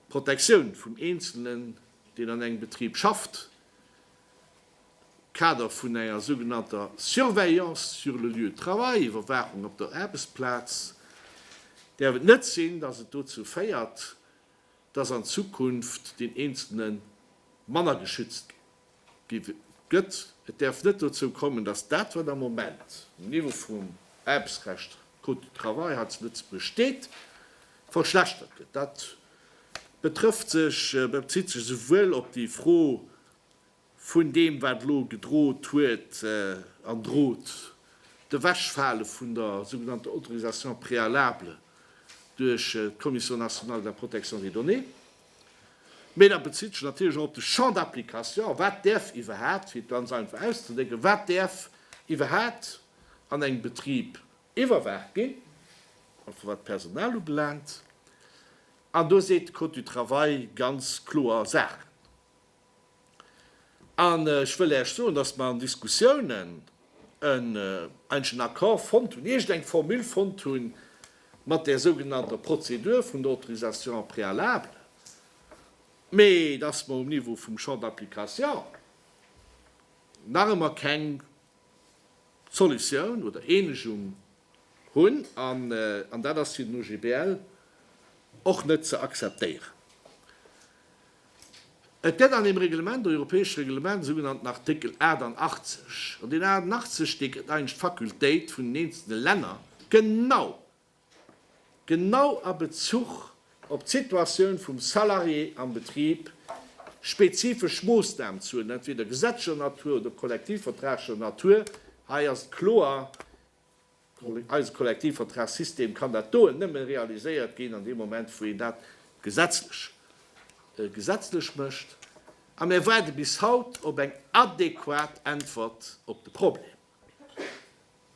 d'Protektioun vum Eenzelnen, deen an engem Betrib schafft, am Kader vun enger sougenannter Surveillance sur le lieu de travail, Iwwerwaachung op der Aarbechtsplaz, däerf et net sinn, dass et dozou féiert, dass an Zukunft den Eenzelne manner geschützt gëtt. Et däerf net dozou kommen, datt dat, wat am Moment um Niveau vum Aarbechtsrecht, Code du travail, hei zu Lëtzebuerg steet, verschlechtert gëtt. Dat betrëfft sech, bezitt sech esouwuel op déi Fro vun deem, wat elo gedrot huet an drot, d'Ewechfale vun der sougenannter Autorisation préalable duerch d'Commission nationale de la protection des données, Mee dat bezitt sech natierlech och op de Champ d'application, Wat däerf iwwerhaapt, fir et ganz einfach auszedrécken, wat däerf iwwerhaapt an engem Betrib iwwerwaacht ginn, och wat d'Personal ubelaangt? An do seet de Code du travail ganz kloer Saachen. An ech wëll Äech soen, dass mer an Diskussiounen en, eigentlech en Accord fonnt hunn, iergendeng Formule fonnt hunn, mat där sougenannter Prozedur vun der Autorisation préalable, mee dass mer um Niveau vum Champ d'application nach ëmmer keng Solutioun oder Eenegung hunn, an dat ass fir den OGBL och net ze akzeptéieren. Et gëtt an deem Reglement, europäesche Reglement, e sougenannten Artikel 88, an deen 88, dee gëtt eigentlech d'Fakultéit vun den eenzelne Länner, genau, genau a Bezuch op d'Situatioun vum Salarié am Betrib, spezifesch Moosnamen ze huelen, entweder gesetzlecher Natur oder kollektivvertraglecher Natur. Hei ass et kloer, Eise Kollektivvertragssystem kann dat doen nëmme realiséiert ginn an deem Moment, wou een dat gesetzlech gesetzlech mécht. A mir waarde bis haut op eng adequat Äntwert op de Problem.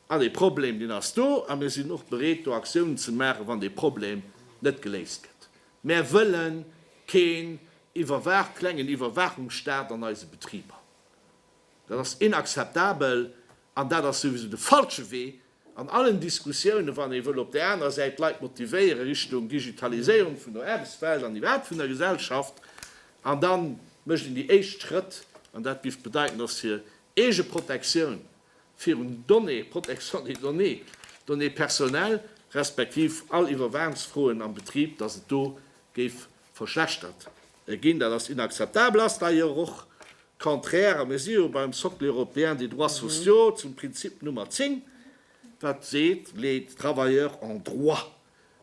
An dee Problem, deen ass do a mir sinn och bereet, do Aktiounen ze maachen, wann dee Problem net geléist gëtt. Mär wëlle keen iwwerwaach klengen Iwwerwaachungsstaat an eise Betriber. Dat ass inakzeptabel An dat ass souwisou de falsche Wee an allen Diskussiounen, wann ee wëll op där anerer Säit d'Leit motivéiere Richtung Digitaliséierung vun der Aarbechtswelt an iwwerhaapt vun der Gesellschaft. An da mécht een déi éischt Schrëtt, an dat géif bedeiten, dass hir eege Protektioun virun Données, Protection des données, Données personnelles, respektiv all Iwwerwaansfroen am Betrib, dass et do géif verschlechtert ginn. Dat ass inakzeptabel, ass d'ailleurs och contraire à mes yeux beim Socle européen des droits sociaux, zum Prinzip Nummer 10, wat seet, Les travailleurs ont droit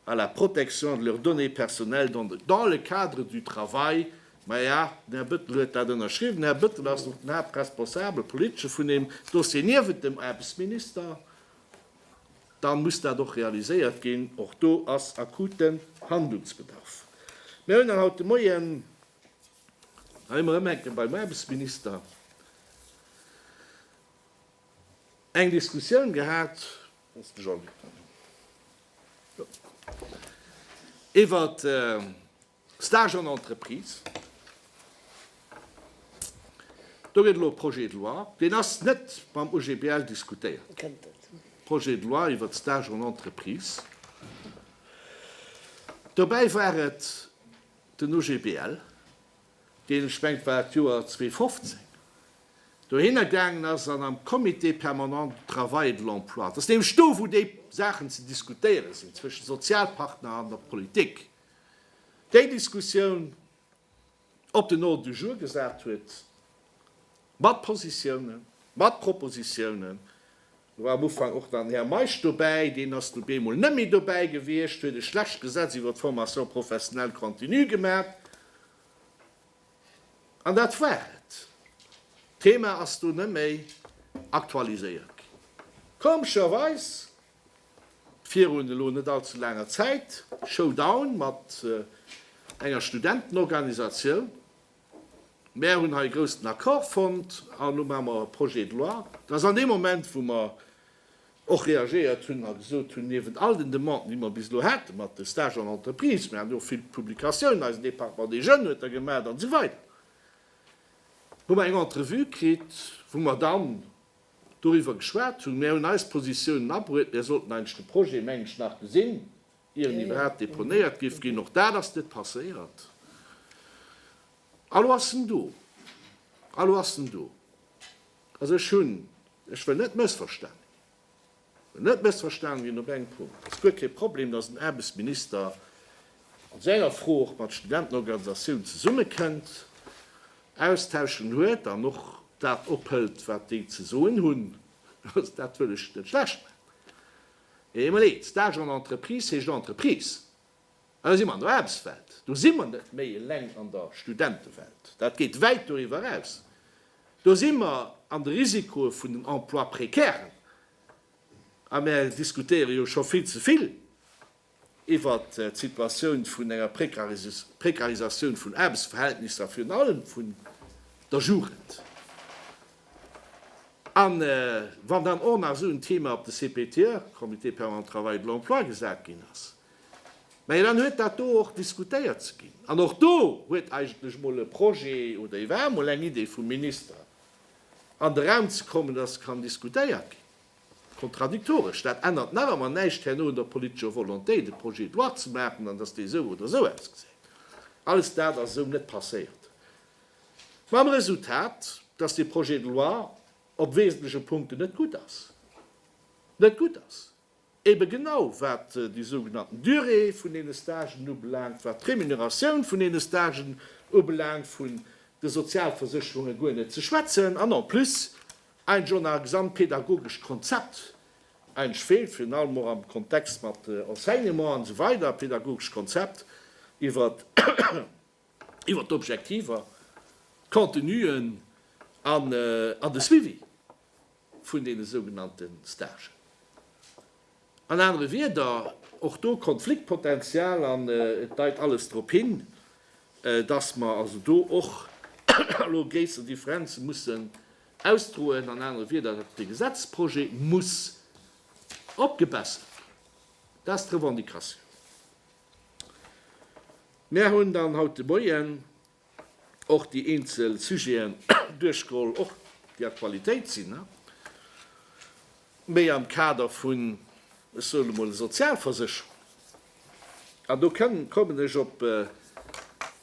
à la protection de leurs données personnelles dans de dans le cadre du travail. Maja, den Här Bëttel huet dat ënnerschriwwen. Den Här Bëttel ass och den Haaptresponsabel, politesche, vun deem Dossier, niewent dem Aarbechtsminister. da muss dat och realiséiert ginn. Och do ass akuten Handlungsbedarf. Mir hunn haut de Moien, da si mer erëm enke beim Aarbechtsminister, eng Diskussioun gehat iwwert, Stage en entreprise, do gëtt elo e Projet de loi, deen ass net mam OGBL diskutéiert, Projet de loi iwwert d'Stage en entreprise. Dobäi war et den OGBL, deen, ech mengen et war d'Joer 2015, dohinner gaangen ass an am Comité permanent du travail et de l'emploi, dat ass nämlech do, wou déi Saachen ze diskutéiere sinn zwëschen Sozialpartner an der Politik, déi Diskussioun op den Ordre du jour gesat huet, mat Positiounen, mat Propositionen. Do war am Ufank och dann Här Meisch dobäi, deen ass du bemol net méi dobäi gewiescht, huet e schlecht Gesetz iwwer d'Formation professionnelle continue gemat, an dat war et. D'Thema ass do net méi aktualiséiert ginn. Komescherweis. Virun elo net all ze laanger Zäit, Showdown mat enger Studentenorganisatioun. Mär hunn hei e groussen Accord fonnt an elo maache mer e Projet de loi. Dat ass an deem Moment, wou mer och reagéiert hunn a gesot hunn, niewent all den Demanden, déi mer bis elo hate mat de Stages en entreprise, mir haten jo och vill Publikatiounen, eisen Département des jeunes huet der gemaach an esou weider, hu mer eng Entrevue kritt, wou mer dann, doriwwer geschwat hunn. Mär hunn eis Positiounen abruet. Mär sollten eigentlech de Projet, mengen ech, nach gesinn, ier en iwwerhaapt deponéiert géif ginn. Och dat ass net passéiert. A lo ass en do. A lo ass en do. Also ech hunn, ech wëll net mëssverstanen ginn. Net mëssverstanen ginn op engem Punkt, Et ass guer kee Problem, datt den Aarbechtsminister an senger Fro och mat Studentenorganisatiounen zesummekënnt, Austauschen huet an och dat ophëlt, wat déi ze soen hunn. Also dat wëll ech net schlecht maachen. Mee eemol eent, Stage en entreprise heescht Entreprise. Elo si mer an der Aarbechtswelt. Do si mer net méi eleng an der Studentewelt. Dat geet wäit doriwwer eraus. Do si mer an de Risikoe vun den Emplois précairen. A mir diskutéiere jo scho vill ze vill iwwer d'Situatioun vun enger Précarisatioun vun Aarbechtsverhältnisser a virun allem vun der Jugend. A wann dann och nach esou en Thema op de CPTE, Comité permanent travail et de l'emploi, gesat ginn ass, Mä dann huet dat do och diskutéiert ze ginn. An och do huet eigentlech emol e Projet oder ee war emol eng Idee vum Minister an de Raum ze kommen, dass kann diskutéiert ginn. Kontradiktoresch. Dat ännert nach ëmmer näischt herno un der politescher Volonté, de Projet de loi ze maachen an dass dee esou oder esou ausgesäit. Alles dat ass esou net passéiert. Mam Resultat, dass dee Projet de loi op wesentleche Punkten net gutt ass. Net gutt ass. Ebe genau, wat déi sougenannten Durée vun deene Stagen ubelaangt, wat d'Remuneratioun vun deene Stagen ubelaangt, vu de Sozialversécherunge guer net ze schwätzen. An en plus, eint jo nach e gesamt pädagogescht Konzept eintsch feelt, virun allem och am Kontext mat Enseignement an esou weider, pädagogescht Konzept iwwert iwwer d'Objektiver, d'Contenuen an de Suivi vun deene sougenannte Stagen. An anere Wieder, och do Konfliktpotential an et deit alles drop hin, dass mer also do och elo gréisser Differenze mussen ausdroen, an anere Wieder, dass de Gesetzprojet muss opgebessert ginn. Dat ass d'Revendicatioun. Mär hunn dann haut de Moien och déi eenzel Sujeten duerchgeholl, och déi Aktualitéit sinn, méi am Kader vun, ech soen emol, Sozialversécherung. An do kommen ech op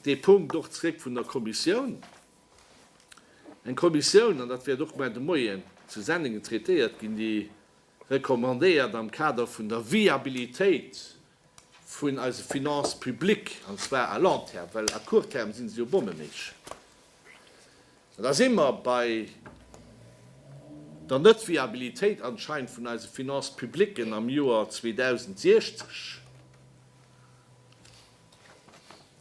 dee Punkt och zréck vun der Kommissioun, eng Kommissioun, an dat wäert och mar de Moien zu Sennengen traitéiert ginn, déi recommandéiert am Kader vun der Viabilitéit vun eise Finances publiques, an zwar à long terme, well à court terme si se jo bommeneesch, an da si mer bei der Netviabilitéit anscheinend vun eise Finances publiques am Joer 2060.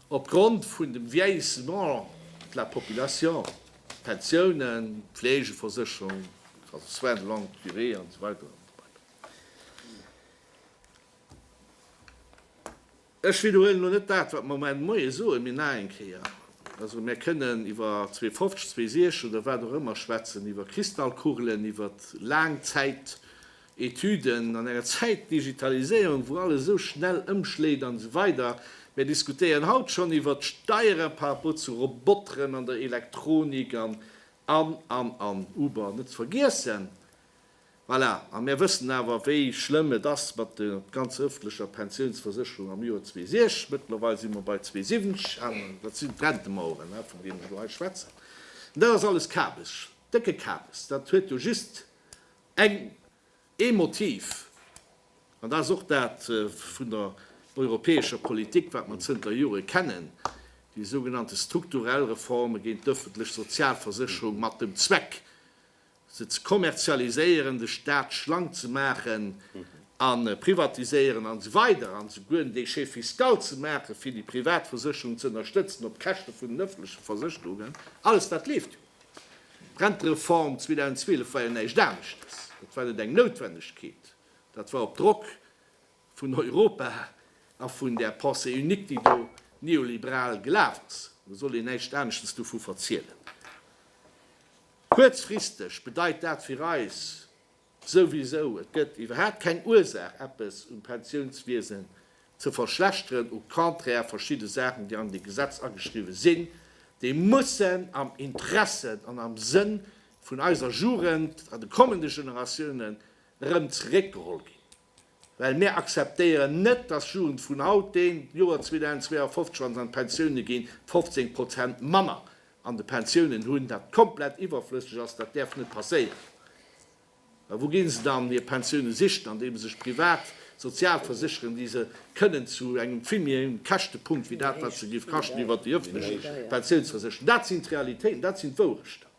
Op Grond vun dem Vieillissement de la population, Pensiounen, Pflegeversécherung, also soins de longue durée an esou weider an esou weider. Ech widderhuelen elo net dat, wat mer mat engem Moie soen, mee nach eng Kéier, Also mir kënnen iwwer 2050, 2060 oder wat och ëmmer schwätzen, iwwer Kristallkugelen, iwwer Laangzäit, Etüden, an enger Zäitdigitaliséierung, wou alles esou schnell ëmschléit an esou weider. Mär diskutéieren haut schonn iwwert d'Steiere par rapport zu Roboteren an der Elektronik an, an, an, an. Uber net ze vergiessen. Voilà. A mär wëssen awer, wéi schlëmm et ass mat der ganzer ëffentlecher Pensiounsversécherung am Joer 2006. Mëttlerweil si mer bei 2070. Dat sinn d'Rentemaueren, vun deenen ech elo hei schwätzen. An dat ass alles Kabes, décke Kabes. Dat huet jo just Eng ee Motiv, an dat ass och dat vun der europäescher Politik, wat mer zënter Jore kennen, déi sougenannte strukturell Reforme géint d'öffentlech Sozialversécherung mat dem Zweck, se ze kommerzialiséieren, de Stat schlank ze maachen a privatiséieren an esou weider an esouguer en Déchet fiscal ze maachen, fir déi privat Versécherungen ze ënnerstëtzen op d'Käschte vun den öffentleche Versécherungen. Alles dat leeft jo. D'Rentereform 2012 war jo näischt aneschtes, et war net eng Noutwennegkeet, dat war op Drock vun Europa a vun där Pensée unique, déi do neoliberal gelaf ass. Elo soll een näischt aneschtes dovu verzielen. Kuerzfristeg bedeit dat fir eis, Souwisou, et gëtt iwwerhaapt keng Ursaach eppes um Pensiounswiesen ze verschlechteren, au contraire, verschidde Saachen déi an déi Gesetz ageschriwwe sinn, déi mussen am Interesse an am Sënn vun eiser Jugend an de kommende Generatiounen erëm zeréckgeholl ginn. Well mir akzeptéieren net, dass Jugend vun haut, deen d'Joer 2052 schonns an d'Pensioune ginn, 15 Prozent manner an de Pensiounen hunn, dat komplett iwwerflësseg ass. Dat däerf net passéieren. Mä wou gi se dann hir Pensioune sichen? Andeem se sech privat sozial versécheren, déi se kënnen zu engem vill méi héijen Käschtepunkt wéi dat, wat se géif kaschten iwwert déi öffentlech Pensiounsversécherung. Dat sinn d'Realitéiten, dat sinn d'Wourechter.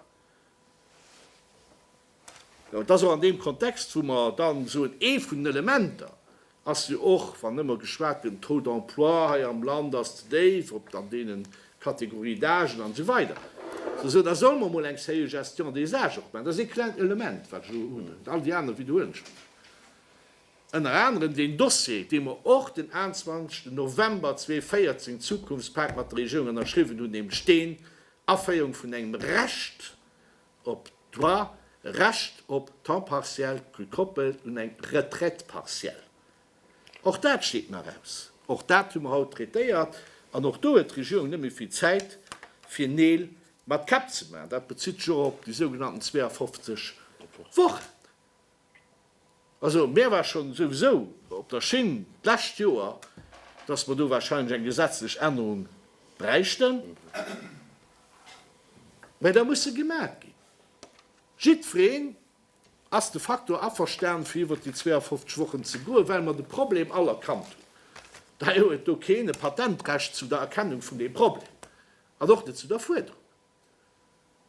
Et ass och an deem Kontext, wou mer dann soen, ee vun den Elementer ass jo och, wann ëmmer geschwat gëtt, den Taux d'emploi hei am Land ass ze déif, ob an deene Kategorie d'âgen an esou weider, ze soen, da solle mer emol eng sérieux Gestion des âges och maachen. Dat ass ee klengt Element, wat ech elo hunn, an all déi aner wiederhuelen ech mech. Ënner anerem deen Dossier, dee mer och den 21 November 2014, Zukunftspak mat der Regierung ënnerschriwwen hunn, nämlech deen, Aféierung vun engem Recht op Droit, Recht op Temps partiel gekoppelt un eng Retraite partielle. Och dat steet nach aus. Och dat hu mer haut traitéiert. An och do huet d'Regierung net méi vill Zäit, fir Neel mat Käpp ze maachen. Dat bezitt sech och op déi sougenannten 52 Wochen. Also, mir war schonn souwisou op der Schinn d'lescht Joer, dass mer do wahrscheinlech eng gesetzlech Ännerung bräichten, mä da muss se gemaach ginn. Jiddwereen ass de facto averstanen, fir iwwert déi 52 Wochen ze goen, well mer de Problem all erkannt hunn. Daher huet do keen e Patentrecht zu der Erkennung vun deem Problem an och net zu der Fuerderung.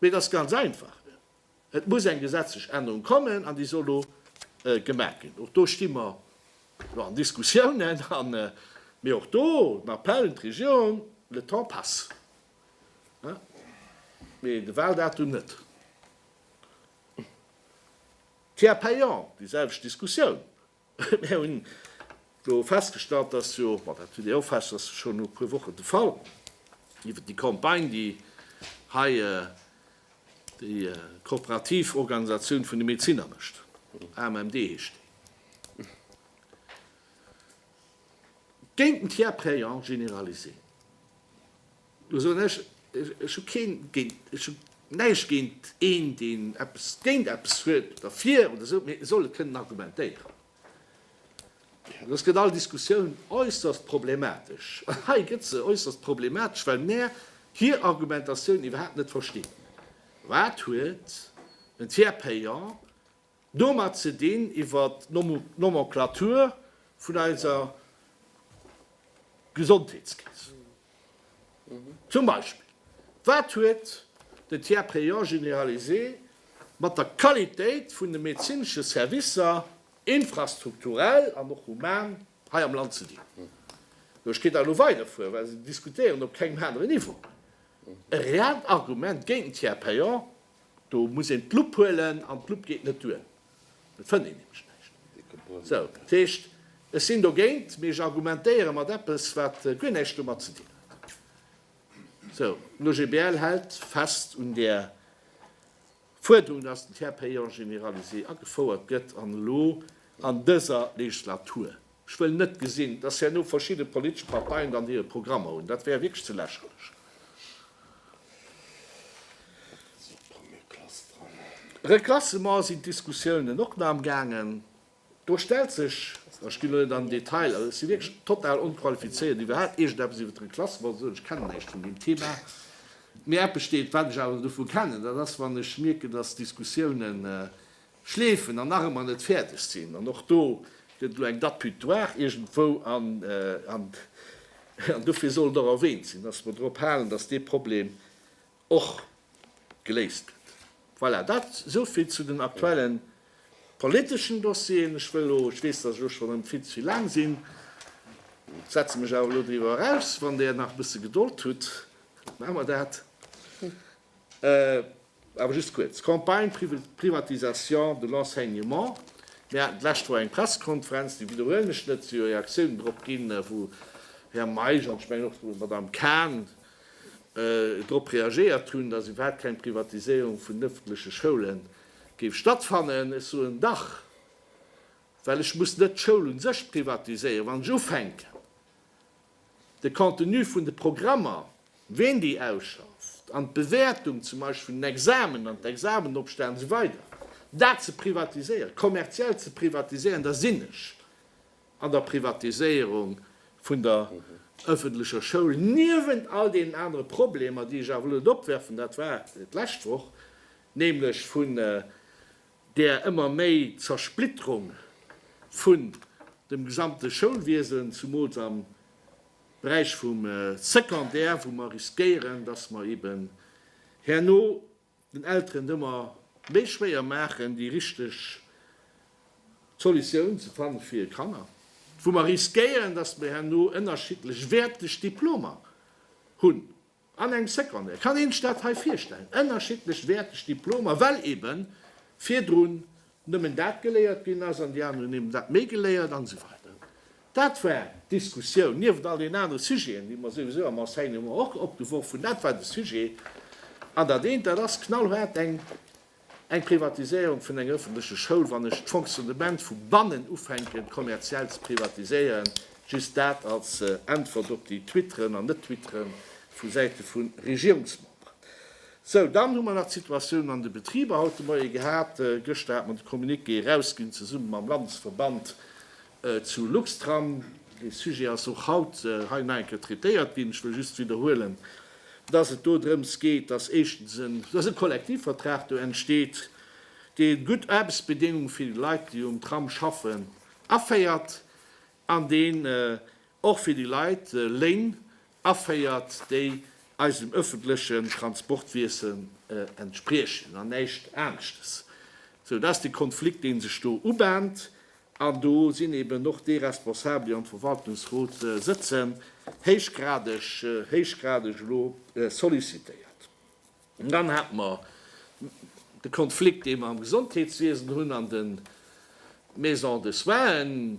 Mee et ass ganz einfach, Et muss eng gesetzlech Ännerung kommen an déi soll elo gemaach ginn. Och do sti mer jo an Diskussiounen an, mee och do den Appell un d'Regierung, Le temps passe, mee de Wahldatum net. Tiers payant, déi selwecht Diskussioun, Mär hunn elo festgestallt, dass jo, ma dat hutt Dir och fest, dass scho no e puer Wochen de Fall iwwert déi Campagne, déi hei déi kooperativ Organisatioun vun de Medezinner mécht, AMMD heescht déi, géint den Tiers payant généralisé. Do soen ech, Ech hu keen géint, ech hu näischt géint een, deen eppes géint eppes huet, oder fir oder esou, mee e soll et kënnen argumentéieren. An ech gëtt all Diskussioun äusserst problematesch. An hei gëtt se äusserst problematesch, well mär hir Argumentatioun iwwerhaapt net verstinn. Wat huet en Tiers payant Domat zitt een iwwer d'Nomenclature vun eiser Gesondheetskeess. Zum Beispill, wat huet den Tiers payant généralisé mat der Qualitéit vun de medezinesche Servicer, infrastrukturell an och human, hei am Land ze dinn? Ech kéint da elo weiderfueren, well se diskutéieren op kengem anere Niveau. E reellt Argument géint den Tiers payant Do muss een d'Lupp huelen an d'Lupp geet net duer, do fënnt een nämlech näischt. Esou, dat heescht, ech sinn dogéint, mee ech argumentéiere mat eppes, wat guer näischt domat ze dinn huet. Esou, d'OGBL hält fest un där Fuerderung, dass den Tiers payant généralisé agefouert gëtt an elo an dëser Legislatur Ech wëll net gesinn, dass herno verschidde politesch Parteien dann hire Programmer hunn. Dat wär wierklech ze lächerlech. Reklassement sinn d'Diskussiounen och nach am gaangen. Do stellt sech, ma ech ginn elo net an den Detail, also ech si wierklech total onqualifizéiert, iwwerhaapt iergendeppes iwwer d'Reklassement ze soen, ech kennen näischt vun deem Thema, mee eppes steet, wat ech awer dovu kennen, dat ass, wann ech mierken, dass d'Diskussiounen Schleefen an nach ëmmer net fäerdeg sinn. An och do gëtt elo eng Date butoir iergendwou an dofir soll et och erwähnt sinn, dass mer drop halen, dass dee Problem och geléist gëtt. Voilà, dat esou vill zu den aktuelle politeschen Dossieren. Ech wëll elo, ech weess, dass ech elo schonn erëm vill ze vill laang sinn, setze mech awer elo driwwer eraus. Wann Der nach e bësse Gedold hutt, maache mer dat. Awer just kuerz. Campagne privatisation de l'enseignement, Mir haten d'lescht Woch eng Pressekonferenz, déi widderhuelen ech net, wou jo Reaktiounen drop ginn, wou Här Meisch an ech mengen och d'Madame Cahn drop reagéiert hunn, datt iwwerhaupt keng Privatiséierung vun den öffentleche Schoule géif stattfannen. Ech soen dach, well ech muss net d'Schoul u sech privatiséieren, wann ech ufänken, De Contenu vun de Programmer, ween déi ausschafft, an d'Bewäertung zum Beispill vun den Examen an d'Examenopstänn an esou weider, dat ze privatiséieren, kommerziell ze privatiséieren, da sinn ech an der Privatiséierung vun der öffentlecher Schoul, niewent all deenen anere Problemer, déi ech awer elo net opwerfen, dat war d'lescht Woch, nämlech vun där ëmmer méi Zersplitterung vun dem gesamte Schoulwiesen, zumools am Beräich vum Secondaire, wou mer riskéieren, dass mer eben herno den Elteren et ëmmer méi schwéier maachen, déi richteg Solutioun ze fanne fir hir Kanner, wou mer riskéieren, dass mer herno ënnerschiddlech wäerteg Diplomer hunn. An eng Seconde kann een sech dat hei virstellen, ënnerschiddlech wäerteg Diplomer, well ebe virdrun nëmmen dat geléiert ginn ass an déi aner hunn eben dat méi geléiert an esou weider. Dat war d'Diskussioun, nieft all den anere Sujeten, déi mer souwisou am Enseignement och opgeworf hunn. Dat war de Sujet. An dat eent, dat ass knallhaart eng Eng Privatiséierung vun enger ëffentleche Schoul, wann ech d'Fonctionnement vu bannen ufänken kommerziell ze privatiséieren, just dat als Äntwert op déi Twitteren an Net-Twittere vu Säite vu Regierungsmemberen. Sou, dann hu mer nach d'Situatioun an de Betriber haut de Moie gehat. Gëschter hat mer de Communiqué erausginn, zesumme mam Landesverband Zu Luxtram, dee Sujet ass och haut hei nach eng Kéier traitéiert ginn, ech wëll just widderhuelen, dass et do drëms geet, dass éischtens e Kollektivvertrag do entsteet, dee gutt Aarbechtsbedéngunge fir déi Leit, déi um Tram schaffen, aféiert an deen och fir déi Leit Léin aféiert, déi eisem öffentlechen Transportwiesen entspriechen an näischt aneschtes, sou dass de Konflikt, dee sech do ubahnt, an do sinn eben och déi Responsabel, déi am Verwaltungsrot sëtzen, héichgradeg, héichgradeg elo sollicitéiert. Dann hate mer de Konflikt, dee mer am Gesondheetswiesen hunn an de Maisons de soins.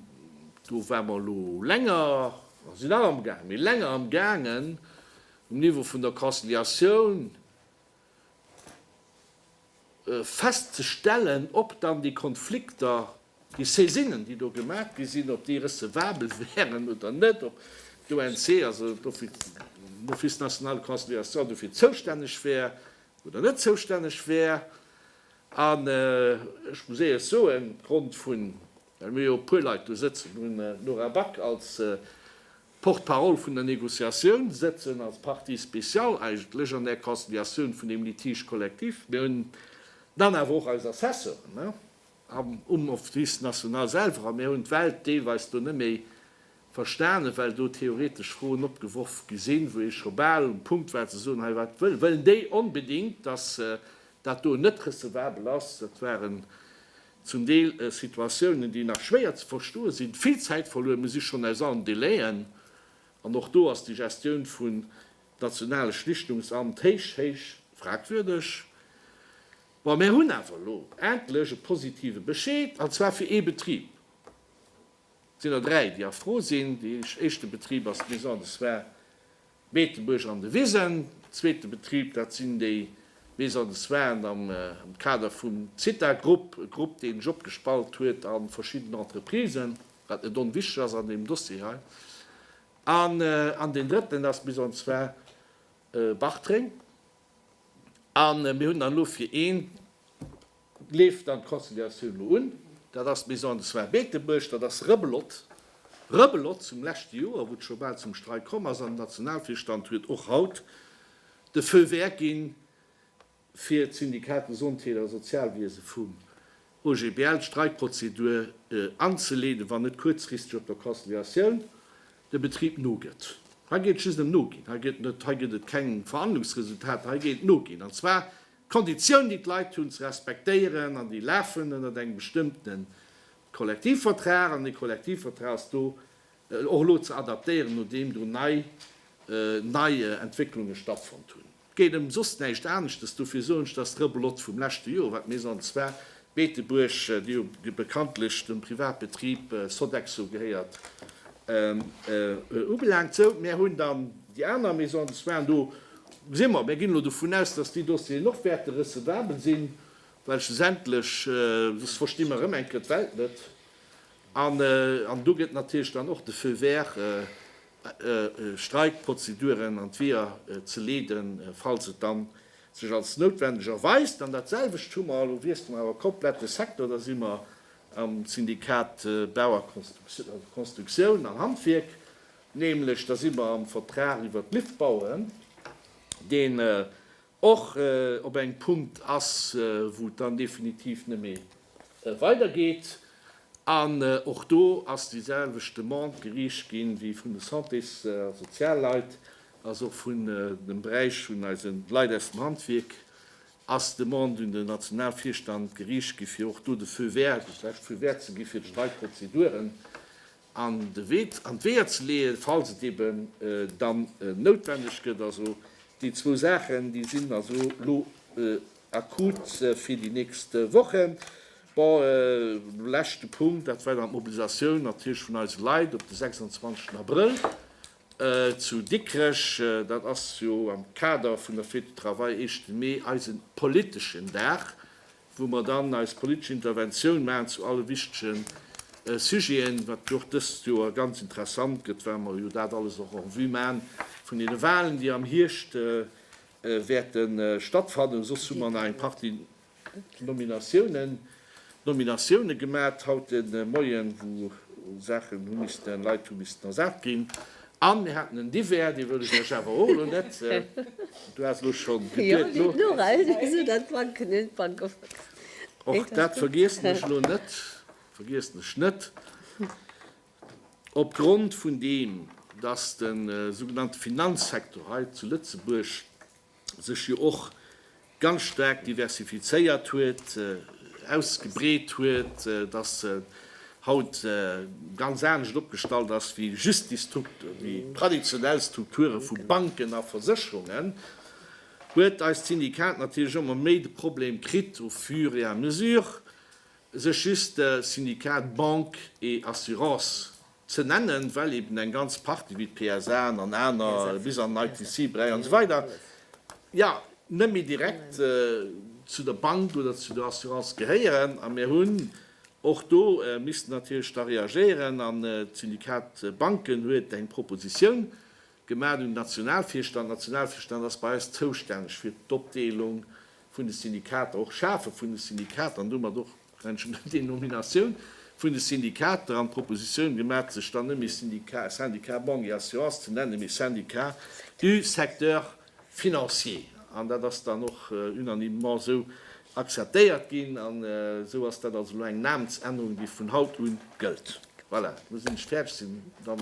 Do ware mer elo länger, mer sinn nach am Gaang, mee länger am Gaangen um Niveau vun der Conciliatioun festzestellen, ob dann déi Konflikter Déi Saisinnen, déi do gemaach gi sinn, ob déi recevabel wäeren oder net, ob d'ONC, also d'Office national de conciliation, dofir zoustänneg wär oder net zoustänneg wär. An ech muss éierlech soen, opgrond vun, well mir jo e puer Leit do sëtzen hunn, d'Nora Back als Porte-parole vun der Négociatioun sëtzen, als partie spéciale eigentlech an där Conciliatioun vun deem Litige collectif, mir hunn dann awer och eis Assessoren, Am um Office national selwer, a mir hunn d'Welt deelweis do net méi verstanen, well do theoretesch Froen opgeworf gi sinn, wou ee scho bal um Punkt war ze soen, hei wat wëll wëllen déi onbedingt, dass dat do net recevabel ass. Dat waren zum Deel Situatiounen, déi nach schwéier ze verstoe sinn, vill Zäit verluer, mir si schonn aus allen Délai'en, an och do ass déi Gestioun vun nationale Schlichtungsamt héich, héich fragwürdeg. Bon, mär hunn awer elo endlech e positive Bescheed, an zwar fir ee Betrib. Et sinn der dräi, déi erfro sinn. Dee éischte Betrib ass d'Maison de soins Beetebuerg an de Wisen. Den zweete Betrib, dat sinn déi Maisons de soins am Kader vum Zitha-Grupp, e Grupp, dee sech opgespalt huet a verschidden Entreprisen, wat net onwichtig ass an deem Dossier hei. An deen drëtten ass d'Maison de soins Bartreng. A mir hunn dann elo fir een, leeft dann d'Conciliatioun elo un, dat ass d'Maison des soins Beetebuerg, dat ass Rëbelot. Rëbelot zum leschte Joer, wou et scho bal zum Streik komm ass an den Nationalvirstand huet och haut de Feu vert ginn, fir d'Syndicat de Santé a Sozialwiese vum OGBL d'Streikprozedur anzeleeden, wann net kuerzfristeg op der Conciliatioun de Betrib nogëtt. Hei geet et just ëm Noginn. Hei gëtt net, hei gëtt et keng Verhandlungsresultater. Hei geet et Noginn, an zwar d'Konditioun, déi d'Leit hunn ze respektéieren, an déi lafen ënnert engem bestëmmte Kollektivvertrag, an dee Kollektivvertrag ass do och elo ze adaptéieren, nodeem do nei Entwécklunge stattfonnt hunn. 't geet em soss näischt aneschtes, dofir soen ech dass d'Rebelote vum leschte Joer wat d'Maison de soins Beetebuerg, déi jo bekanntlech dem Privatbetrib Sodexo gehéiert, ubelaangt. Sou, mär hunn dann déi aner Maison de soins, do gesi mer, mär ginn elo dovun aus, dass déi Dossieren och wäerte recevabel sinn, well schlussendlech soss versti mer erëm eng Kéier d'Welt net an do gëtt natierlech dann och de Feu vert Streikprozeduren an d'Weeër ze leeden, falls et dann sech als noutwendeg erweist. An dat selwecht hu mer, elo wiessle mer awer komplett de Secteur, da si mer am Syndikat Bau a Constructioun an Handwierk, nämlech da si mer am Vertrag iwwert d'Liftbauen, deen och op engem Punkt ass, wou et dann definitiv net méi weidergeet. An och do ass déi selwecht Demande geriicht gi wéi vun de Santés a Sozialleit, also och vun dem Beräich vun eise Leit aus dem Handwierk, ass d'Demande un den Nationalvirstand geriicht gi fir och do de Feu vert, dat lescht Feu vert ze gi fir d'Streikprozeduren. an de Wee, an d'Weeër ze leeën, falls et eben dann noutwendeg gëtt. Also déi zwou Saachen, déi sinn also elo akut fir déi nächst Wochen. Bon, leschte Punkt, dat war dann d'Mobilisatioun natierlech vun eise Leit op de 26 Abrëll zu Dikrech. Dat ass jo am Kader vun der Fête du Travail, Eeschte Mee, eise politeschen Dag, wou mer dann eis politesch Interventioun maachen zu alle wichtige Sujeten, wat jo och dëst Joer ganz interessant gëtt, well mer jo dat alles och en vue maachen vun deene Wahlen, déi am Hierscht wäerte stattfannen. Soss hu mer nach eng Partie Nominatiounen, Nominatiounen gemaach haut de Moien, wou Saachen hu missten, Leit hu missten ersat ginn, An mir haten en Divers, dee wëll ech lech awer och elo net, du has elo scho geduet, lo. Och dat vergiessen ech elo net, vergiessen ech net. Opgrond vun deem, dass de sougenannte Finanzsektor hei zu Lëtzebuerg sech jo och ganz staark diversifizéiert huet, ausgebreet huet, datt se haut ganz anescht opgestallt ass wéi just déi traditionell Strukture vu Banken a Versécherungen, huet eist Syndikat natierlech ëmmer méi de Problem kritt, au fur et à mesure, sech just Syndikat Banque et Assurances ze nennen, well eben eng ganz Partie wéi d'PSA an aner, bis an den ITC Beräich an esou weider, jo net méi direkt zu der Bank oder zu der Assurance gehéieren. A mir hunn och do missten natierlech da reagéieren an d'Syndikat Banken huet eng Proposition Gemaach un den Nationalvirstand. Den Nationalvirstand ass bei eis zoustänneg fir d'Opdeelung vun de Syndikater, och d'Schafe vun de Syndikater an domat och d'entsprechend Denominatioun vun de Syndikater an d'Propositioun gemaach, sech dann net méi Syndicat Banque et Assurance ze nennen, mee Syndicat du secteur financier. An dat ass dann och unanimement esou akzeptéiert ginn. An esou ass dat also elo eng Namensännerung, déi vun haut u gëllt. Voilà, elo sinn ech fäerdeg. Sinn dann.